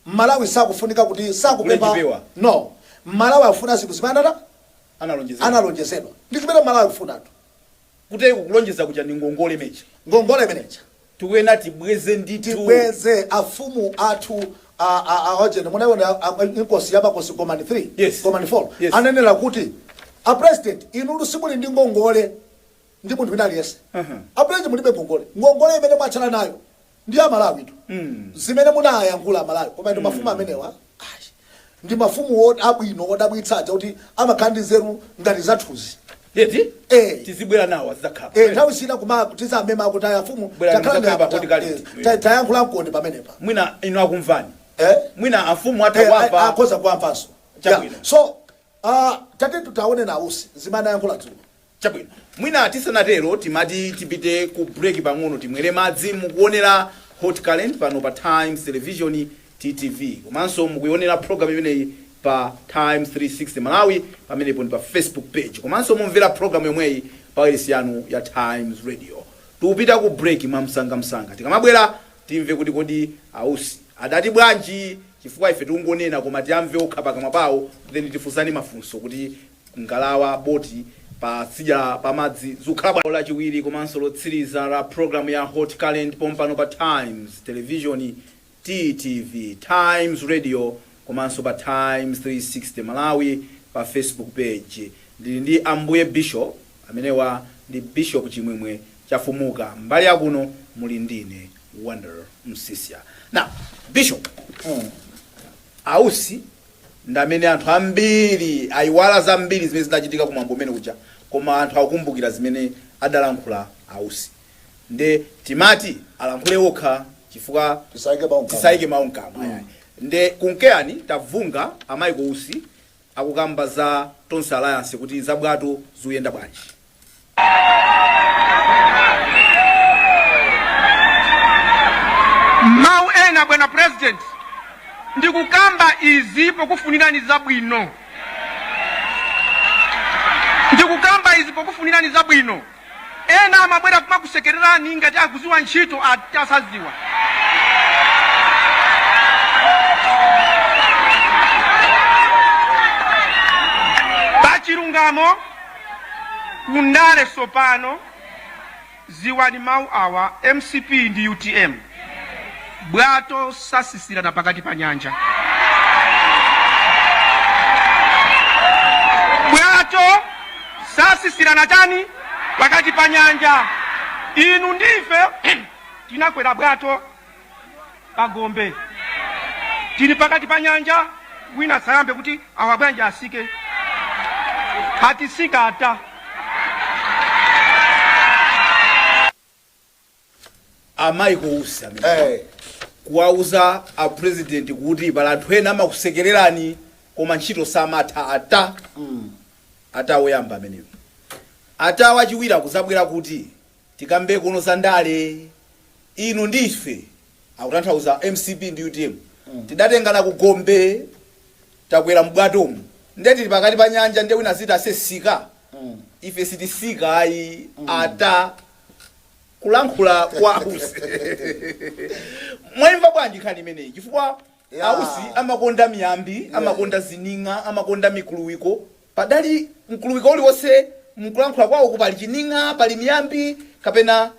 M'malawi sakufunika kuti sakupempha agule chipewa. No. M'malawi akufuna zinthu zimene anata? Analonjezedwa. Analonjezedwa. Ndi zimene M'malawi akufunatu. Ndiyetu kulonjeza kuja ndi ngongole imeja. Ngongole imene ija. tikuyenera tibweze ndithu. Tibweze. Afumu athu a, a, a ujeni munaiona a, a, Inkosi ya Makosi Gomani 3, Yes. Gomani 4 Yes. ananena kuti, A President, inutu simuli ndi ngongole. ndi munthu wina aliyense apresident mulibe ngongole ngongole imene mwatsala nayo ndi ya Amalawitu zimene munayankhula amalawi koma inu mafumu amenewa ayi, ndi mafumu wot- abwino odabwitsa aja kuti amakhala ndi nzeru ngati zathuzi eti Eh. tizibwera nawo azidzakhala Eh, nthawi zina kuma tidzamema kuti aya afumu Bwera takhalani mudzakamba akuti kali. aputa- eh, ta- tayankhula nkoni pamenepa mwina inu akumvani Eh? mwina amafumu Eh, atakwapa a- akhoza kuwamvanso Chabwino. Yeah. so ah, tati tutaone nanunso zimene ayankhula dzulo Chabwino, mwina tisanatero timati tipite ku break pang'ono timwere madzi. Mukuonera Hot Current pano pa Times Television, TTV, komanso mukuonera program imeneyi pa Times 360 Malawi pamenepo ndi pa Facebook page komanso mumvera program yomweyi pa wailesi yanu ya Times Radio. Tikupita ku break mwamsangamsanga. Tikamabwera timve kuti kodi a Usi adati bwanji chifukwa ife tikungonena koma tiamve okha pakamwa pawo then tifunsane mafunso kuti ngalawa, boti, pa tsidya pa madzi zikukhala bwanji? Lachiwiri komanso lotsiriza la programu ya Hot Current pompano pa Times Television, TTV, Times Radio komanso pa Times 360 Malawi pa Facebook page. Ndili ndi Ambuye Bishop. Amenewa ndi Bishop Chimwemwe Chafumuka. Mbali ya kuno muli ndine, Wonder Msiska. Now, Bishop, a Usi ndamene anthu ambiri ayiwala zambiri zimene zidachitika kumwambo umene uja koma anthu akukumbukira zimene adalankhula a Usi nde timati alankhule okha chifukwa Tisaike mawu mkamwa. tisaike mawu mkamwa ayayi. nde kumkekani tamvani a Michael Usi akukamba za Tonse Alliance kuti zabwato zikuyenda bwanji mau ena bwana president ndikukamba izi pokufunirani zabwino ndikukamba izi pokufunirani zabwino ena amabwera kumakusekererani ngati akuziwa ntchito asaziwa pachilungamo ku ndale tsopano ziwani mau awa mcp ndi utm bwato satsitsirana pakati pa nyanja bwato satsitsirana chani pakati pa nyanja inu ndife tinakwera bwato pa gombe tili pakati pa nyanja wina sayambe kuti awa bwanji atsike sititsika ata amayikapo kuwauza a president kuti pali anthu ena amakusekererani koma ntchito samatha ata ata woyamba ameneyo ata wachiwiri akuzabwera kuti Tikambe kuno za ndale inu ndi ife, akutanthauza mcp ndi utm, tidatengana ku gombe takwera m'bwatomu nde tili pakati pa nyanja nde wina aziti ase tsika ife sititsika ayi ata kulankhula kwa a Usi mwaimva bwanji nkhani imeneyi chifukwa Ausi amakonda miyambi, amakonda zining'a, amakonda mikuluwiko. Panali mkuluwiko uliwonse m'kulankhula kwawoku pali chining'a, pali miyambi kapena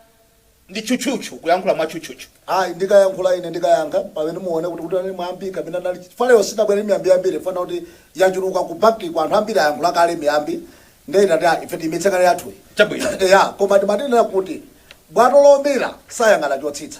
ndi tchutchutchu, kuyankhula mwa tchutchutchu. I, Ndikayankhula ine ndikayankha pamene muone kuti kuti unali mwambi kapena inali chifukwa lero sitinabwere ndi miyambi yambiri chifukwa chakuti yachuluka ku bankiku anthu ambiri ayankhula kale miyambi ndiye tinati ah ife tiyimitse kaye yathuyi Chabwino. eya koma timatinena kuti bwato lomira sayang'ana chotsitsa.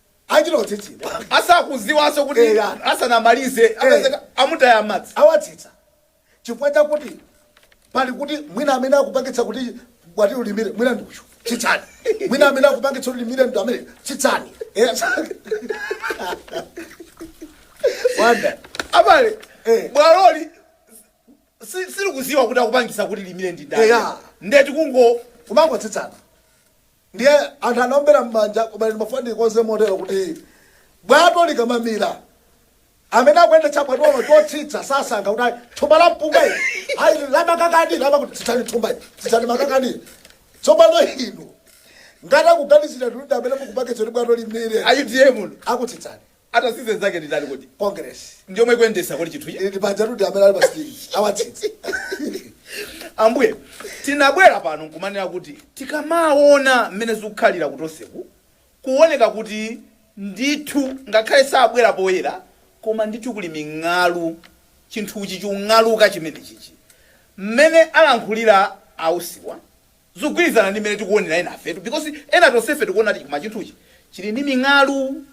achita kutsitsidwa asakudziwanso kuti Eya. asanamalize apezeka amutaya madzi awatsitsa chifukwa chakuti pali kuti mwina amene akupangitsa kuti bwatolo limire mwina ndi uyu tsitsani mwina amene akupangitsa kuti limire ndi amene tsitsani Eh, sa- wanda abale Eh. bwatoli si- silikudziwa kuti akupangitsa kuti limire ndi ndani Eya. nde ndi kungo kumangotsitsana Ndiye anthu anaombera m'manja, koma ine ndimafuna ndilikonze motero kuti bwato likamamira, amene akuyendetsa bwatolo chotsitsa sasankha kuti ayi, thumba la mpunga ili, ayi ili la makakadi, la makuti, tsitsani thumba ili, tsitsani makakadi ili. Tsopano inu ngati akuganizira kuti ndi amene mukupangitsa kuti bwato limire, A UTM inu. akutsitsani. Atsitse nzake ndindani kodi? Congress. Ndiyomwe ikuyendetsa kodi chinthu ichi? Iti pajatu ndi amene ali pa stage. Awatsitsa. Ambuye, tinabwera pano nkumanena kuti tikamaona mmene zikukhalira kutoseku, kuoneka kuti ndithu ngakhale sabwera poyera koma ndithu kuli ming'alu, chinthuchi chikung'aluka chimenechichi. Mmene alankhulira a Usiwa zikugwirizana ndi mmene tikuonera enafetu because ena tonsefe tikuona kuti koma chinthuchi chili ndi ming'alu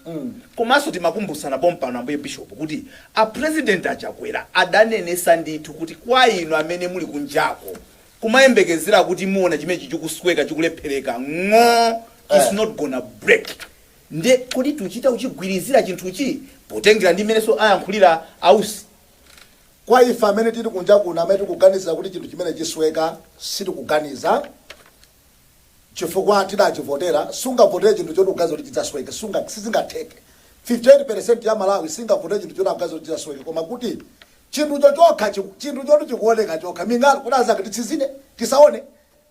komanso timakumbutsana pompano ambuye bishop kuti a president a Chakwera adanenetsa ndithu kuti kwa inu amene muli kunjako kumayembekezera kuti muona chimenechi chikusweka chikulephereka ng'o it's not gonna break nde kodi tuchita kuchigwirizira chinthuchi potengera ndi mmenenso ayankhulira a Usi Kwa ife amene tili kunja kuno amene tikuganizira kuti chinthu chimene chisweka sitikuganiza chifukwa tidachivotera. Sungavotere chinthu choti ukuganiza kuti chidzasweke, sunga sizingatheke. 58% ya aMalawi singavotere chinthu choti akuganiza kuti chidzasweke koma kuti chinthucho chokha chiku chinthu choti chikuoneka chokha ming'alu kuti nanga titsinzine? Tisaone?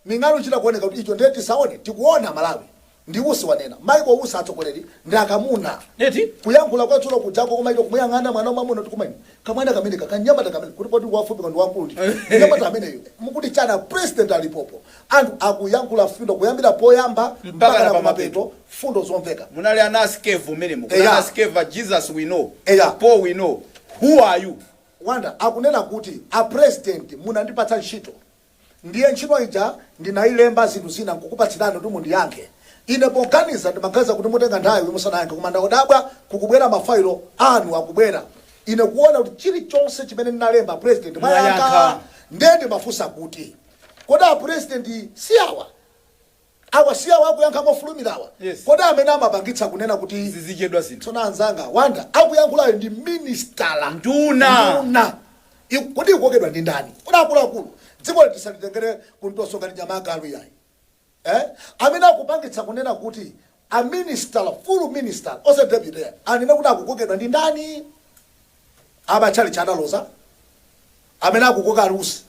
Ming'alu chikuoneka kuti icho ndiye tisaone tikuona Malawi ndi Usi wanena Michael Usi atsogoleri ndi akamuna eti kuyankhula kwa dzulo kujako koma ine kumuyang'ana mwana wamwamuna kuti koma inu kamwana kameneka kanyamata kamene kuti poti ngwafupi koma ndi wamkulu ndithu mnyamata ameneyu mukuti chana president alipopo anthu akuyankhula mfundo kuyambira poyamba mpaka na kumapeto mfundo zomveka. Munali ana a Skeva mmenemo. Kuna ana a Skeva a Jesus we know, Paul we know. Who are you? Wonder akunena kuti a president munandipatsa ntchito. Ndiye ntchito ija ndinailemba zinthu zina nkukupatsirani kuti mundiyankhe. Ine poganiza ndimaganiza kuti mutenga nthawi musanayankhe koma ndadabwa kukubwera, ma fayilo anu akubwera. Ine kuona kuti chilichonse chimene ndinalemba apresident mwayankha. Ndiye ndimafunsa kuti kodi apresident si awa? Awa si awo akuyankha mofulumirawa? Yes. Kodi amene amapangitsa kunena kuti Zizichedwa zinthu. tsono anzanga a Wanda akuyankhulayo ndi minisitala Nduna. nduna Iku- kodi ikukokedwa ndi ndani kodi akuluakulu dziko liti salitengere kuntoso ngati nyama agalu yayi eh? amene akupangitsa kunena kuti a minister full minister osati deputy anene kuti akukokedwa ndi ndani amatchalitchi adaloza amene akukoka a Usi,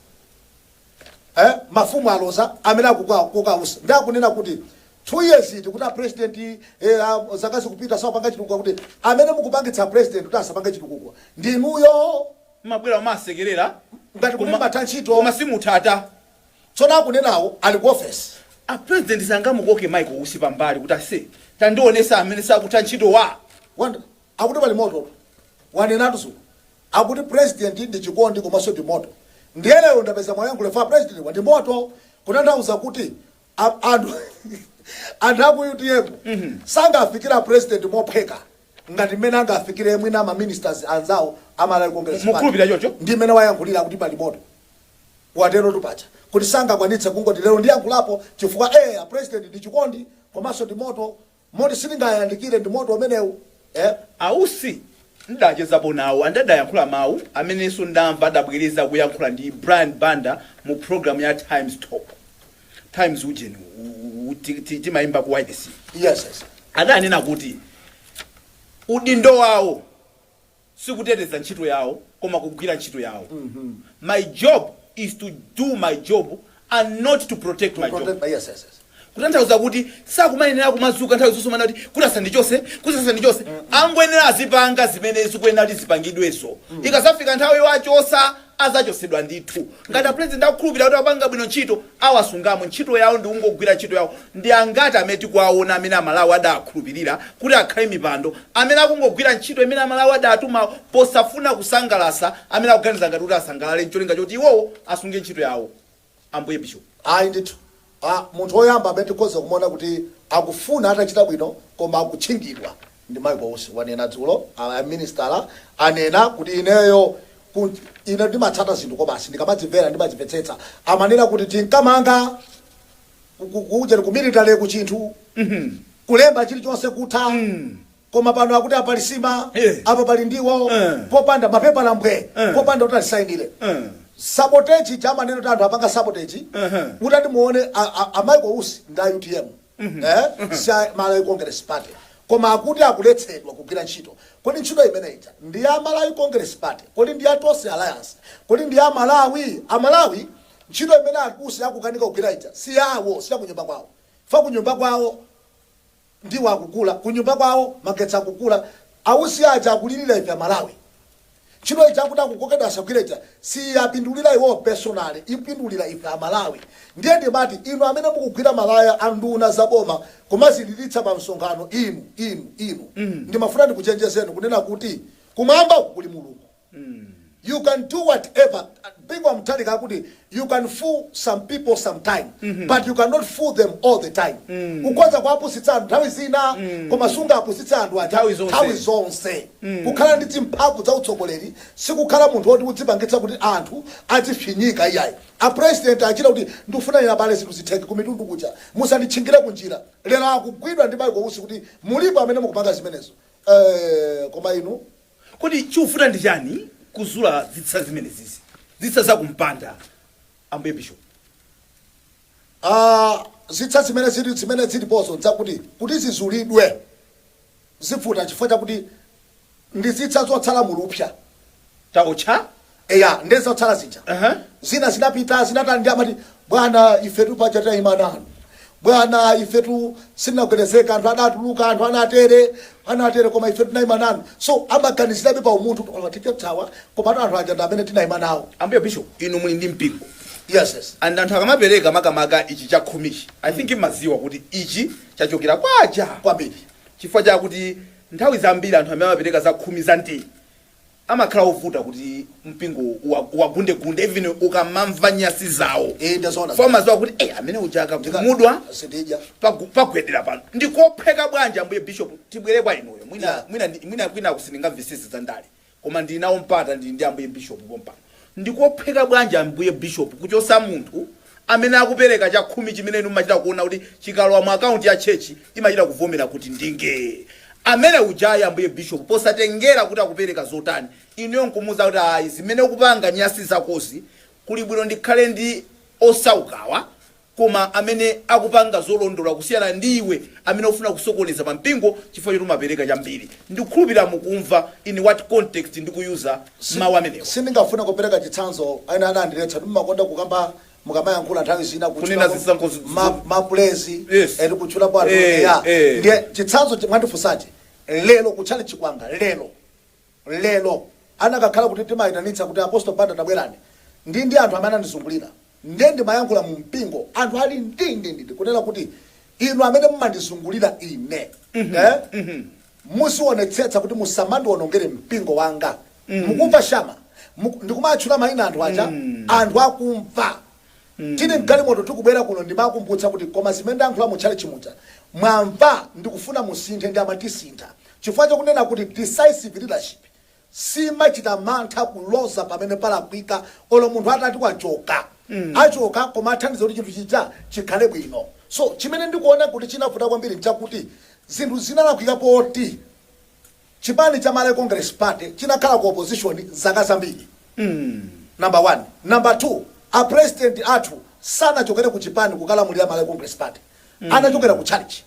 eh, mafumu aloza amene akukoka a Usi, ndi akunena kuti two years iti kuti a president eh, a, zaka zikupita sapanga chitukuko kuti amene mukupangitsa president kuti asapange chitukuko ndi inuyo mmabwera kumasekerera ngati kuti kuti mumatha ntchito koma simumatha tsono akunenawo ali ku office a president sangamukoke michael usi pambali kuti aise tandionetsa amene sakutha ntchito a Wanda akuti pali moto wanenatu zulo Akuti president ndi chikondi komanso ndi moto ndiye lero ndapeza mwayi yankhule a president wati moto kutanthauza kuti a anthu anthu aku utm sangafikire a president mophweka ngati mmene angafikire mwina ma ministers anzawo a Malawi Congress Mukhulupirira Party choncho? ndi mmene wayankhulira akuti pali moto waterotu paja kuti sangakwanitse kungoti lero ndiyankhulapo chifukwa eh a president ndi chikondi komanso ndi moto Moti sindingayandikire ndi moto umenewu eh? A Usi ndidachezapo nawo and adayankhula mawu amenenso ndamva adabwereza akuyankhula ndi Brian Banda mu program ya Times Talk, Times ujeni uyu timaimba ku wailesiyi. Yes, yes. Adanena kuti udindo wawo. sikuteteza ntchito yawo koma kugwira ntchito yawo my job is to do my job and not to protect my job kutanthauza kuti sakumayenera kumazuka nthawi zonse kumanena kuti kuti asandichose kuti asandichose angoyenera azipanga zimene zikuyenera kuti zipangidweso ikazafika nthawi yowachosa azachotsedwa ndithu ngati a president akukhulupilira kuti akupanga bwino ntchito awasungamo ntchito yawo ndikungogwira ntchito yawo ndi angati amene tikuwaona amene amalawi adawakhulupilira kuti akhale mipando amene akungogwira ntchito imene amalawi adawatumawo posafuna kusangalasa amene akuganiza ngati kuti asangalale ncholinga choti iwowo asunge ntchito yawo Ambuye Bishop. Ayi ndithu a munthu woyamba amene tikhoza kumuona kuti akufuna atachita bwino koma akutchingidwa ndi Michael Usi wanena dzulo a Aminisitala anena kuti ineyo ku ine ndimatsata zinthu kwabasi ndikamadzimvera ndimadzimvetsetsa amanena kuti tinkamanga ku ku ku ujeni ku military ku chinthu kulemba chilichonse kutha Koma pano akuti a Pali nsima apa pali ndiwo popanda mapepala mbwe popanda kuti alisainile. Sabotage ija amanena kuti anthu apanga sabotage mutati muone a a Michael Usi ndi a utm eeh si a Malawi Congress Party koma akuti akuletsedwa kugwira ntchito. Kodi ntchito imene ija ndi ya Malawi Congress Party? Kodi ndi ya Tonse Alliance? Kodi ndi ya Malawi? A Malawi ntchito imene a Usi akukanika kugwira ija si yawo si ya kunyumba kwawo chifukwa kunyumba kwawo. ndiwo akugula kunyumba kwawo magetsi akugula ausi aja akulilira ife amalawi ntchito ija akuti akukokedwa asagwire ija siyiapindulira iwowo personally ikupindulira ife amalawi ndiye ndimati inu amene mukugwira malaya a nduna za boma kumazililitsa pa msonkhano inu inu inu ndimafuna ndikuchenjezeni kunena kuti kumwambako kuli mulungu you can do what ever Bingu wa Mutharika akuti you can fool some people some time but you cannot fool them all the time ukhoza kuwapusitsa anthu nthawi zina koma sungapusitse anthu aja Nthawi zonse. nthawi zonse kukhala ndi zimphamvu za utsogoleri sikukhala munthu woti udzipangitsa kuti anthu adzifinyika iyayi apresident achita kuti ndikufuna ina pale zinthu zitheke kumtunda kuja musanditchingire kunjira lero akugwidwa ndi Michael Usi kuti mulipo amene mukupanga zimenezo Eh, koma inu Kodi chikuvuta ndi chani kuzula zitsa zimenezizi? Zitsa za kumpanda Ambuye Bishop? Aaa zitsa zimene zili zimene zilipozo nzakuti kuti zizulidwe zivuta chifukwa chakuti ndi zitsa zotsala mu lupsa. Taotcha eya nde zotsala zija Ehe. zina zinapita zinatani ndi amati bwana ifetu paja tayima nanu bwana ifetu sitinagwedezeka anthu adatuluka anthu anatere anatere koma ifetu tinayima nanu so amaganizirabe pa umunthu tikawapsa komatu anthu aja ndi amene tinayima nawo ambuye bishop inu muli ndi mpingo yes yes and anthu akamapereka makamaka ichi chakhumichi i think imaziwa kuti ichi chachokera kwa uja kwambiri chifukwa chakuti nthawi zambiri anthu amene amapereka zakhumi za mtiri amakhala ovuta kuti mpingo uwa- uwagundegunde even ukamamva nyasi zawo Eh, ndazoona. umaziwa kuti eh, amene uja akakhumudwa sindidya pagu- pagwedera pano ndikophweka bwanji ambuye bishop tibwere kwa inuyo mwina Yeah. mwina ndi- mwina kwina kusindika visisi za ndale koma ndili nawo mpata ndili ndi ambuye bishop pompano Ndi kophweka bwanji, Ambuye bishopu, kuchotsa munthu amene akupereka chakhumi chimene inu mumachita kuwona kuti chikalowa mu akaunti ya churchi, imachita kuvomera kuti, Ndingee. Amene uja, i, Ambuye bishopu, posatengera kuti akupereka zotani, inuyo nkumuza kuti, Ayi, zimene ukupanga, nyasi zakozi, kuli bwino ndikhale ndi osaukawa koma amene akupanga zolondola kusiyana ndi iwe amene ukufuna kusokoneza pa mpingo chifukwa choti umapereka chambiri. Ndikukhulupirira mukumva in what context ndikuyuza mawu amenewa. sindingafune kupereka chitsanzo ena anandiletsa kuti mumakonda kukamba mukamayankhula nthawi zina kutchula Kunena mu- zisankho zi- ma- zi- mapulezi Yes. eti kutchulapo anthu Eh, eya eh. ndiye chitsanzo chimwe andifunsachi lero kuti chali chikwanga lero lero anakakhala kuti tinayitanitsa kuti apostle Banda tabwerani ndi ndi anthu amene anandizungulira nde ndimayankhula mu mpingo anthu ali ndi ndi ndi ndi kunena kuti inu amene mumandizungulira ine eh muzionetsetsa kuti musamandionongere mpingo wanga mukumva shama Muku, ndikumatchula mayina anthu aja anthu akumva Tili mgalimoto tikubwera kuno ndimawakumbutsa kuti koma zimene ndayankhula mu tchalitchi muja mwamva? Ndikufuna musinthe ndi amati tisintha chifukwa cha kunena kuti decisive leadership simachita mantha kuloza pamene palakwika olo munthu atati wachoka achoka koma athandiza kuti chinthu chija chikhale bwino. So chimene ndikuona kuti chinavuta kwambiri nchakuti zinthu zinalakwika kuti. Chipani cha Malawi Congress Party chinakhala ku opposition zaka zambiri number 1 number 2 a president athu sanachokere ku chipani kukalamulira Malawi Congress Party anachokera ku chalichi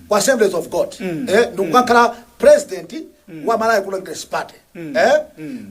ku Assemblies of God eh ndikukakhala president wa Malawi Congress Party eh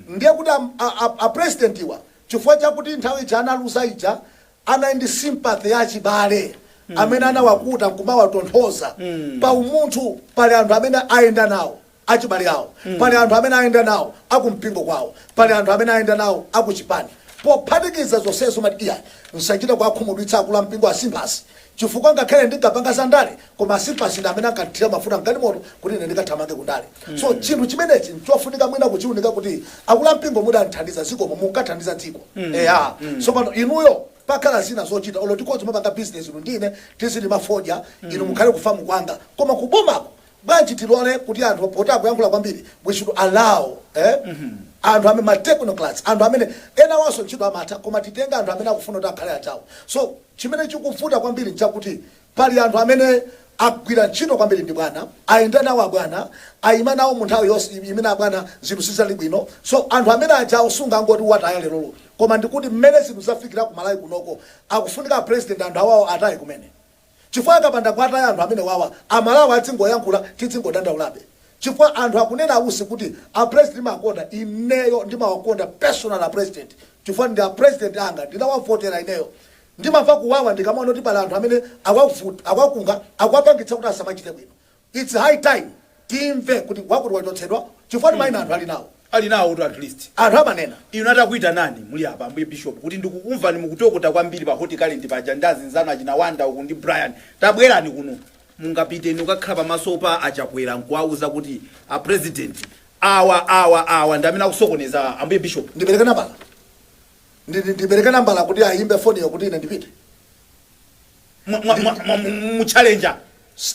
ndiye kuti a, a, a, a president-wa chifukwa chakuti nthawi ija analuza ija Anali ndi sympathy ya achibale amene anawakuta nkumawatonthoza. Pa umunthu pali anthu amene ayenda nawo achibale awo, pali anthu amene ayenda nawo akumpingo kwawo, pali anthu amene ayenda nawo akuchipani. Pophatikiza zonsezo umati, Iyayi, msachite kuwakhumudwitsa akulu ampingo a Simbazi. Chifukwa ngakhale ndinkapanga za ndale koma a Simbazi ndi amene ankandithira mafuta m'galimoto kuti ine ndikathamange ku ndale. So chinthu chimenechi n'chofunika mwina kuchiunika kuti akulu ampingo mudandithandiza zikomo munathandiza dziko. Eya. Tsopano inuyo pakhala zina zochita olo tikhoza kumapanga business inu ndi ine tizilima fodya inu mukhale ku farm kwanga koma ku bomako bwanji tilore kuti anthu poti akuyankhula kwambiri we should allow eh anthu amene ma technocrats anthu amenenawanso ntchito amatha koma titenge anthu amene akufuna kuti akhale achawo so chimene chikuvuta kwambiri nchakuti pali anthu amene agwira ntchito kwambiri ndi bwana ayenda nawo abwana ayima nawo mu nthawi yonse imene abwana zinthu sizinali bwino so anthu amene ajawo sungangoti wataya lerolo koma ndikuti mmene zinthu zafikira ku malawi kunoko pakufunika president anthu awawo ataye kumene chifukwa akapanda kuwataya anthu amenewawa amalawi azingoyankhula tizingodandaulabe chifukwa anthu akunena onse kuti a president timawakonda ineyo ndimawakonda personally a president chifukwa ndi a president anga ndinawavotera ineyo ndimamva kuwawa ndikamaona kuti pali anthu amene awavut awakunga akuwapangitsa kuti asamachite bwino Its high time timve kuti wakuti wachotsedwa chifukwatu maina anthu ali nawo. Ali nawotu at least. Anthu amanena. Inu atakuitanani muli apa Ambuye Bishop kuti ndikukumvani mukutokota kwambiri pa Hot Current paja ndi azinzanu achina Wonder uku ndi Brian tabwerani kuno. Mungapite inu kukakhala pamaso pa a Chakwera nkuwauza kuti a President awa, awa, awa ndi amene akusokoneza Ambuye Bishop? Ndipereke nambala? Ndipereke nambala kuti ayimbe foniyo kuti ine ndipite? mwa- mwa- mwa- mwa- mundichallenger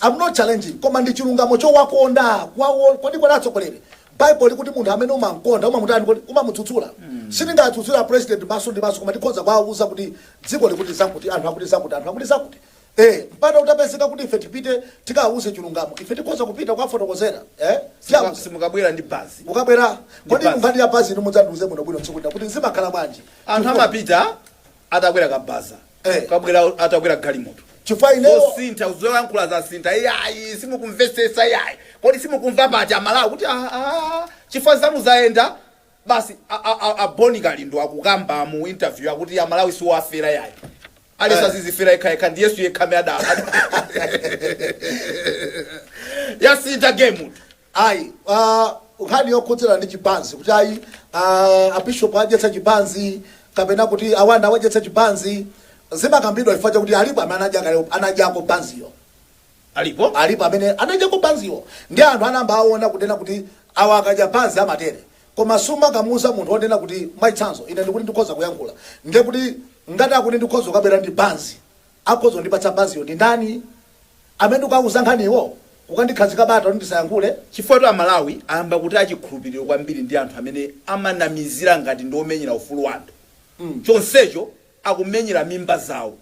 I'm not challenging koma ndi chilungamo chowakonda kwawo kodi kodi atsogoleri bible likuti munthu amene umamkonda umamutani umamudzudzula sindingadzudzule president maso ndi maso koma tikhoza kwawuza kuti dziko likuti zakuti anthu akuti zakuti anthu akuti zakuti eh mpata utapezeka kuti ife tipite tikawuze chilungamo ife tikhoza kupita kwafotokozera eh Simuka- simukabwera ndi banzi ukabwera kodi banzi. mungati ya banzi inu mudzandiuze bwino bwino tsiku lina kuti zimakhala bwanji anthu amapita atakwera kabaza Eh. nkubwera atakwera galimoto chifukwa ineyo zosintha zoyankhula zasintha iyayi simukumvesesa iyayi kodi simukumva poti amalawi kuti "Ah, ah, chifukwa zanu zayenda basi a- a- a- a Bon Kalindo akukamba mu interview akuti amalawi siowafera iyayi alesa Eh. adzizifera yekhayekha ndi yesu yekha amene adala yasintha game ayi pa nkhani yokhudzana ndi chibanzi kuti ayi a abishop adyetsedwa chibanzi kapena kuti a Wonder awadyetsa chibanzi zimakambidwa chifukwa chakuti alipo amene anadya kale anadyako banziyo alipo alipo amene anadyako banziyo ndi anthu anayamba kuona kunena kuti awa akadya banzi amatere koma sumakamuuza munthu wonena kuti mwachitsanzo ine ndikuti ndikhoza kuyankhula ndiye kuti ngati akuti ndikhoza kukabwera ndi banzi Akhoza kundipatsa banziyo ndi ndani? Amene ndikuwauza nkhaniwo? Kukandikhazika bata kuti ndisayankhule? Chifukwatu Amalawi ayamba kutaya chikhulupiriro kwambiri ndi anthu amene amanamizira ngati ndi omenyera ufulu wa anthu chonsecho akumenyera mimba zawo.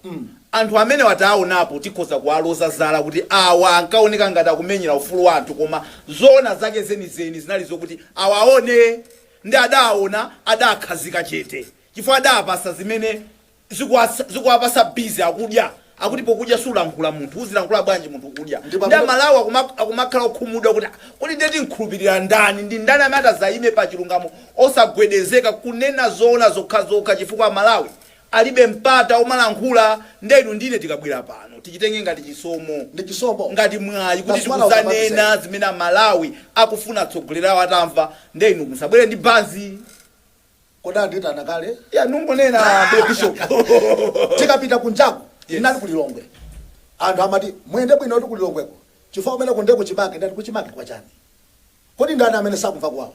Anthu amenewa tawaonapo, tikhoza kuwaloza zala kuti awa ankaoneka ngati akumenyera ufulu wa anthu koma zoona zake zenizeni zinali zokuti awaone ndi adaaona adaakhazika chete chifukwa adaapatsa zimene zikuwatsa zikuwapatsa busy akudya akuti pokudya sulankhula munthu uzilankhula bwanji munthu ukudya Ndipo ndi amene- amalawi akuma- akumakhala okhumudwa kuti "Ah, kodi nde timkhulupirire ndani ndi ndani amene atazayime pa chilungamo osagwedezeka kunena zoona zokhazokha chifukwa amalawi alibe mpata omalankhula nde inu ndine tikabwera pano tichitenge ngati chisomo ndi chisomo ngati mwayi kuti That's what I was about to tikudzanena zimene amalawi akufuna atsogoleri awo atamva nde inu musabwere ndi banzi kodi anditana kale ya ndingonena a bishop titapita kunjaku inali ku lilongwe anthu amati muyende bwino kuti ku lilongweko chifukwa kumeneko nde kuchimake ndati kuchimake kwa chani kodi ndani amene sakumva kuwawa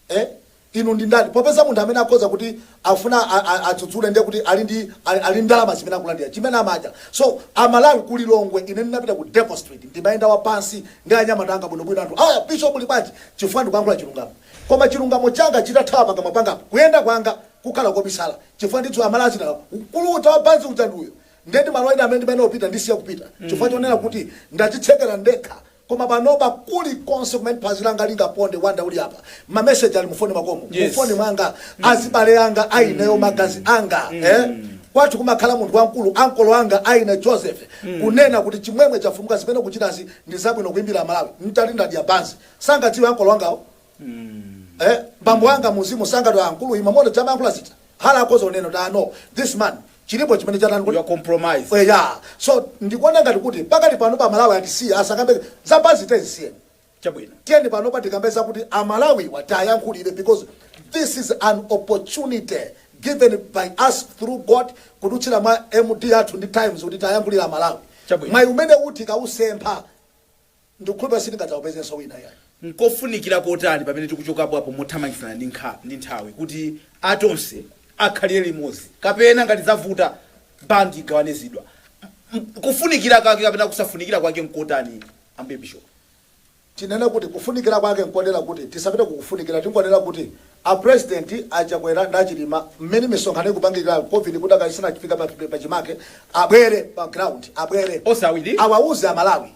eh? inu ndi ndani popeza munthu amene akhoza kuti afuna a- a- adzudzule ndiye kuti ali ndi ali ali ndi ndalama zimene akulandira chimene amadya aso amalawi ku lilongwe ine ndinapita ku devil street ndimayenda wapansi ndi anyamata anga bwinobwino anthu aya bishop uli bwanji chifukwa ndikuyankhula chilungamo Koma chilungamo changa chikathawa pakamwa pangapo, kuyenda kwanga kukhala kobisala, chifukwa ndidziwa amalawi adziti mkulu uja wa banzi uja ndi uyo, nde m'malo ena amene ndimayenera kupita ndisiya kupita chifukwa chonena kuti ndadzitsekera ndekha, koma panopa kuli konse kumene phazi langa lingaponde Wonder uli apa, ma message ali mu foni mwakomo, mu Yes. foni mwanga, azibale anga a ineyo, magazi anga eh, kwathu kumakhala munthu wamkulu, ankolo anga a ine Joseph, kunena kuti Chimwemwe chomwe zimene ukuchitazi ndi zabwino kuimira amalawi, nditati ndadya banzi, sangadziwe ankolo wangawo eh bambo wanga mzimu sangadziwe ankulu ima mone dzama ankhula zita hala akozo neno ta no this man chilipo chimene chatani chachitika compromise we ya so ndikuona ngati kuti pakali pano pa malawi tisiye asakambe zabanzi tizisiyeni chabwino tiyeni pano patikambe zakuti amalawiwa tiwayankhulire because this is an opportunity given to us through god kudutsira mwa md athu ndi times kuti tiwayankhulire amalawi Chabwino. mwayi umene uti ukatisempha Ndikukhulupirira sitingadzaupezenso wina ayi. Nkofunikira kotani pamene tikuchokapo apo mothamangitsana ndi nkha ndi nthawi kuti a Tonse akhale limodzi, kapena, ngati zavuta, bandi igawane zidwa? M, m, kufunikira kake kapena kusafunikira kwake nkotani, Ambuye bishopu? Tinene kuti kufunikira kwake nkotero kuti tisapite ku kufunikira, tingonena kuti a Purezidenti, a Chakwera ndi a Chilima, mmene misonkhano ikupangikirayo, Covid ikudakali isanafike pa, pa chimake, abwere pa ground, abwere, Onse awiri? awauze Amalawi.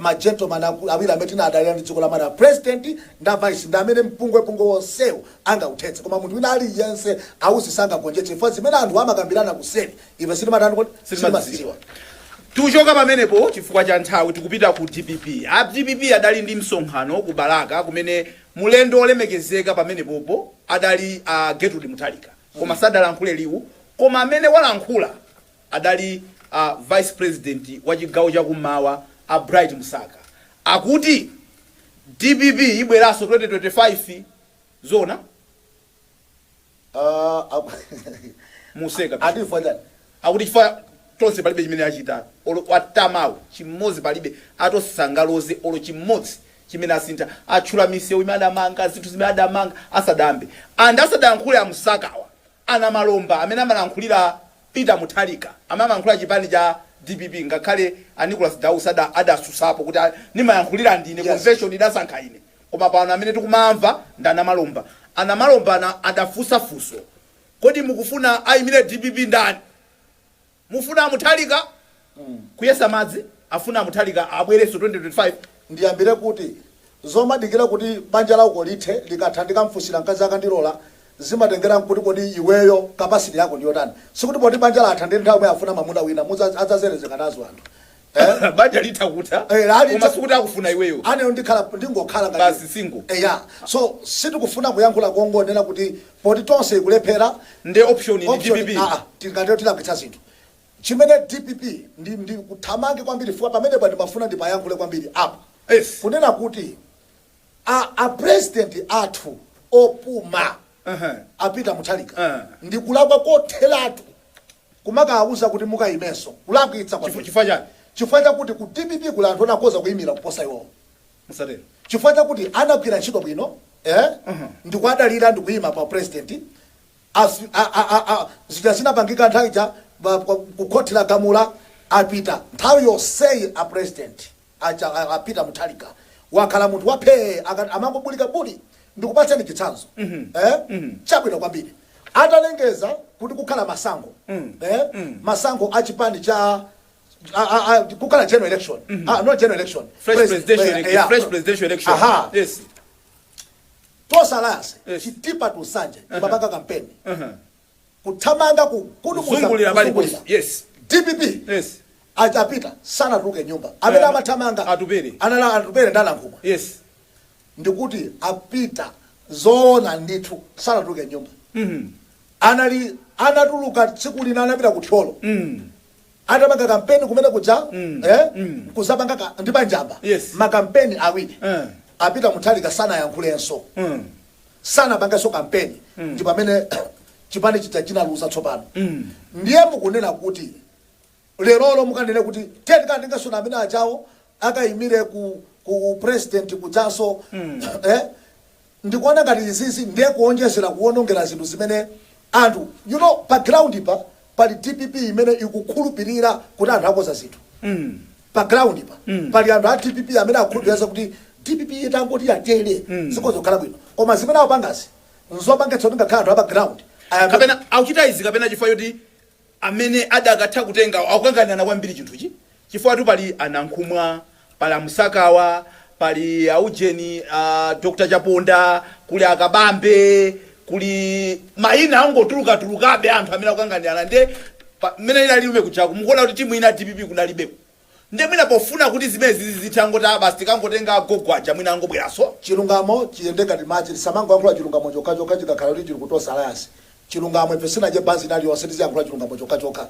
ma gentleman akulu awiri amene timadalira m'dziko la Malawi, president ndi a vice ndi amene mpungwepungwe wonsewu angauthetse koma munthu wina aliyense sangagonjetse chifukwa zimene anthuwa amakambirana kuseri ife sitimatani kodi? Sitimazidziwa. Tikuchoka pamenepo chifukwa cha nthawi tikupita ku dpp. A dpp adali ndi msonkhano ku Balaka kumene mlendo olemekezeka pamenepopo adali a Gertrude Mutharika koma sadalankhule liwu koma amene walankhula, adali a vice president wa chigawo cha kummawa a Bright Msaka akuti dpp ibweraso 2025 zoona? Aaa aku mukuseka bishop ati chifukwa chani? akuti chifukwa a tonse palibe chimene achita olo atamawo chimodzi palibe atonse sangaloze olo chimodzi chimene asintha atchula misewu imene adamanga zinthu zimene adamanga asadayambe and asadayankhule a Msakawa A Namalomba amene amalankhulira Peter Mutharika amene amayankhulira chipani cha dpp ngakhale a Nicholas Dausi adasusapo kuti nimayankhulira ndine convention idasankha ine koma pano amene tikumaamva nda Namalomba. A Namalomba adafusa fuso kodi mukufuna ayimire dpp ndani? Mufuna a Mutharika kuyesa madzi? Afuna a Mutharika abwerenso 2025? Ndiyambire kuti? Zomadikira kuti banja lauko lithe, likatha ndikamfunsira mkazi akandilora, zimatengera kuti kodi iweyo capacity yako ndiyotani? Sikuti poti banja latha ndiye nthawi yomweyo afuna mamuna wina, mudzadza, adzazerezeka nazo anthu. Eh? banja litha kutha Eh, la- koma sikuti akufuna iweyo aneyo ndikhala ndingokhala ngati- Basi single. Eh, ya so sitikufuna kuyankhula kongonena kuti poti tonse ikulephera nde option ndi option- dpp ah, ah, tingatero tilakitsa zinthu chimene dpp ndi, ndikuthamange kwambiri chifukwa pamene pa ndimafuna ndiyankhule kwambiri apa Yes. kunena kuti a, a president athu opuma A Peter Mutharika ndi kulakwa kotheratu kumakawawuza kuti mukayimenso. Kulakwitsa kwambiri. Chifukwa chani? Chifukwa chakuti ku dpp kuli anthu oti akhoza kuyimira kuposa iwowo. Musatero. Chifukwa chakuti akugwira ntchito bwino ee ndikuwadalira ndikuyima pa u president izi zija zinapangika nthawi ija ku khothi lagamula apita. Nthawi yonseyi a president. aja a, a peter muthalika wakhala munthu wa phee akati amangobulika buli ndikupatseni chitsanzo eh? chabwino kwambiri atalengeza kuti kukhala masankho eh? masankho a chipani cha a- a- a- kukhala general election ah, not general election Fresh Pres- presidential eh, election. yeah. Fresh presidential election. Aha. Yes. Tonse Alliance Yes. chitipa to nsanje chimapanga kampeni Uh-huh. kuthamanga kugudubuza kuzungulira pali kuzungulira ponse yes dpp yes aja apita sanatuluke mnyumba amene Eh, amathamanga Atupele. anali atupele nda nankhumwa yes ndikuti apita zoona ndithu sanatuluke mnyumba mm anali anatuluka tsiku lina anapita ku thyolo mm atapanga kampeni kumene kuja eh, nkuzapanga ka, ndi panjamba Yes. makampeni awiri Eh. apita muthalika sanayankhulenso Mm. sanapangenso kampeni ndi pamene chipani chija chinaluza tsopano ndiye mukunena kuti lerolo mukanene kuti tiyeni tikatengenso amene achawo akayimire ku, ku president kudzanso eh, ndikuona ngati izizi ndiye kuonjezera kuonongera zinthu zimene anthu you know pa ground pa pali dpp imene ikukhulupilira kuti anthu akonza zinthu pa ground pa pali anthu a dpp amene akukhulupilira za kuti dpp itangoti yatero zikhoza kukhala bwino koma zimene akupangazi nzopangitsa kuti ngakhale anthu a pa ground ayamba kapena akuchita izi kapena chifukwa choti amene adakatha kutengako akukanganirana kwambiri chinthuchi chifukwatu pali a Nankhumwa, pali a Msaka awa, pali a Ujeni, a Dr Chaponda, kuli a Kabambe, kuli maina akungotulukatulukabe a anthu amene akukanganirana ndiye pa, mmene inalili Blue Movement kujaku mukuona kuti timu ina ya dpp kunalibeko? Ndiye mwina pofuna kuti zimenezi zizitha angoti aah basi tikangotenga agogo aja mwina angobweranso. Chilungamo chiyende ngati madzi tisamangoyankhula chilungamo chokhachokha chikakhala kuti chili ku Tonse Alliance. Chilungamo ife sitinadye banzi ina iliyonse tiziyankhula chilungamo chokhachokha.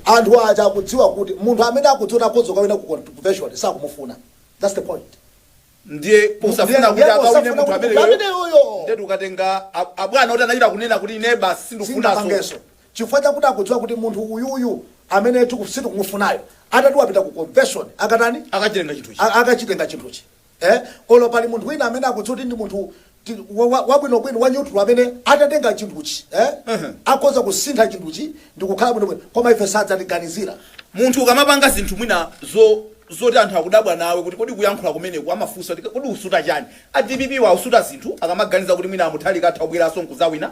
Anthu aja akudziwa kuti munthu amene akudziwa kuti akhoza kukawina ku convention sakumufuna that's the point. Ndiye posafuna kuti akawine munthu ameneyoyo ndiye akukatenga abwana oti anachita kunena kuti ine basi sindikufunanso. chifukwa chakuti akudziwa kuti munthu uyuyu amene tiku sitikumufunayo atati wapita ku convention akatani Akachitenga chinthu ichi. a, akachitenga chinthuchi eh olo pali munthu wina amene akudziwa kuti ndi munthu ti- wa- wa- wabwinobwino wa neutral amene atatenga chinthuchi eh Ehe. akhoza kusintha chinthuchi ndikukhala bwinobwino koma ife sadzatiganizira munthu ukamapanga zinthu mwina zo zoti anthu akudabwa nawe kuti kodi kuyankhula kumeneku amafunsa kuti kodi wasuta chani a dpp awa asuta zinthu akamaganiza kuti mwina amuthalika atha kubweranso nkudzawina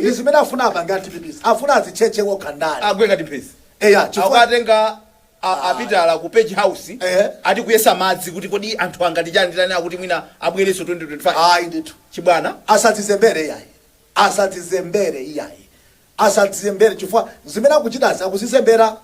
ndi zimene afuna apange a dpp's afuna azitchetche okha ndale agwe ngati mphezi eya chifukwa akuwatenga a- apitala ku page house Eh. ati kuyesa madzi kuti kodi anthu angati chiyani tani akuti mwina abwerenso 2025 ayi ndithu chibwana asadzizembere iyayi asadzizembere iyayi asadzizembere chifukwa zimene akuchitazi akudzizembera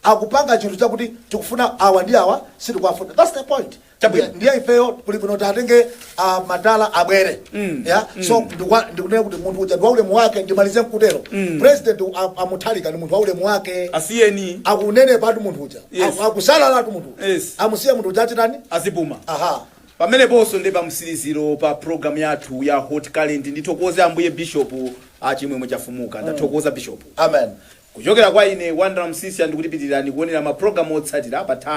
akupanga chinthu chakuti tikufuna awa ndi awa sitikuwafuna that's the point Chabwino. Ndiye- ndiye ifeyo kuli bwino kuti atenge ah, madala abwere yeah so ndikwa- ndikunena kuti munthu uja ndi waulemu wake ndimalize nkutero president a- amuthalika ndi munthu waulemu wake asiyeni akunenepatu munthu uja Yes. Aku- akusalalatu munthu uja. Yes. amusiye munthu uja achitani adzipuma aha pameneponso ndi pamtsiriziro pa programu yathu ya hot current ndithokoze ambuye bishop achimwemwe Chifumuka ndathokoza bishop amen Kuchokera kwa ine Wonder Msiska ndikuti pitirirani kuonera ma program otsatira pa Times.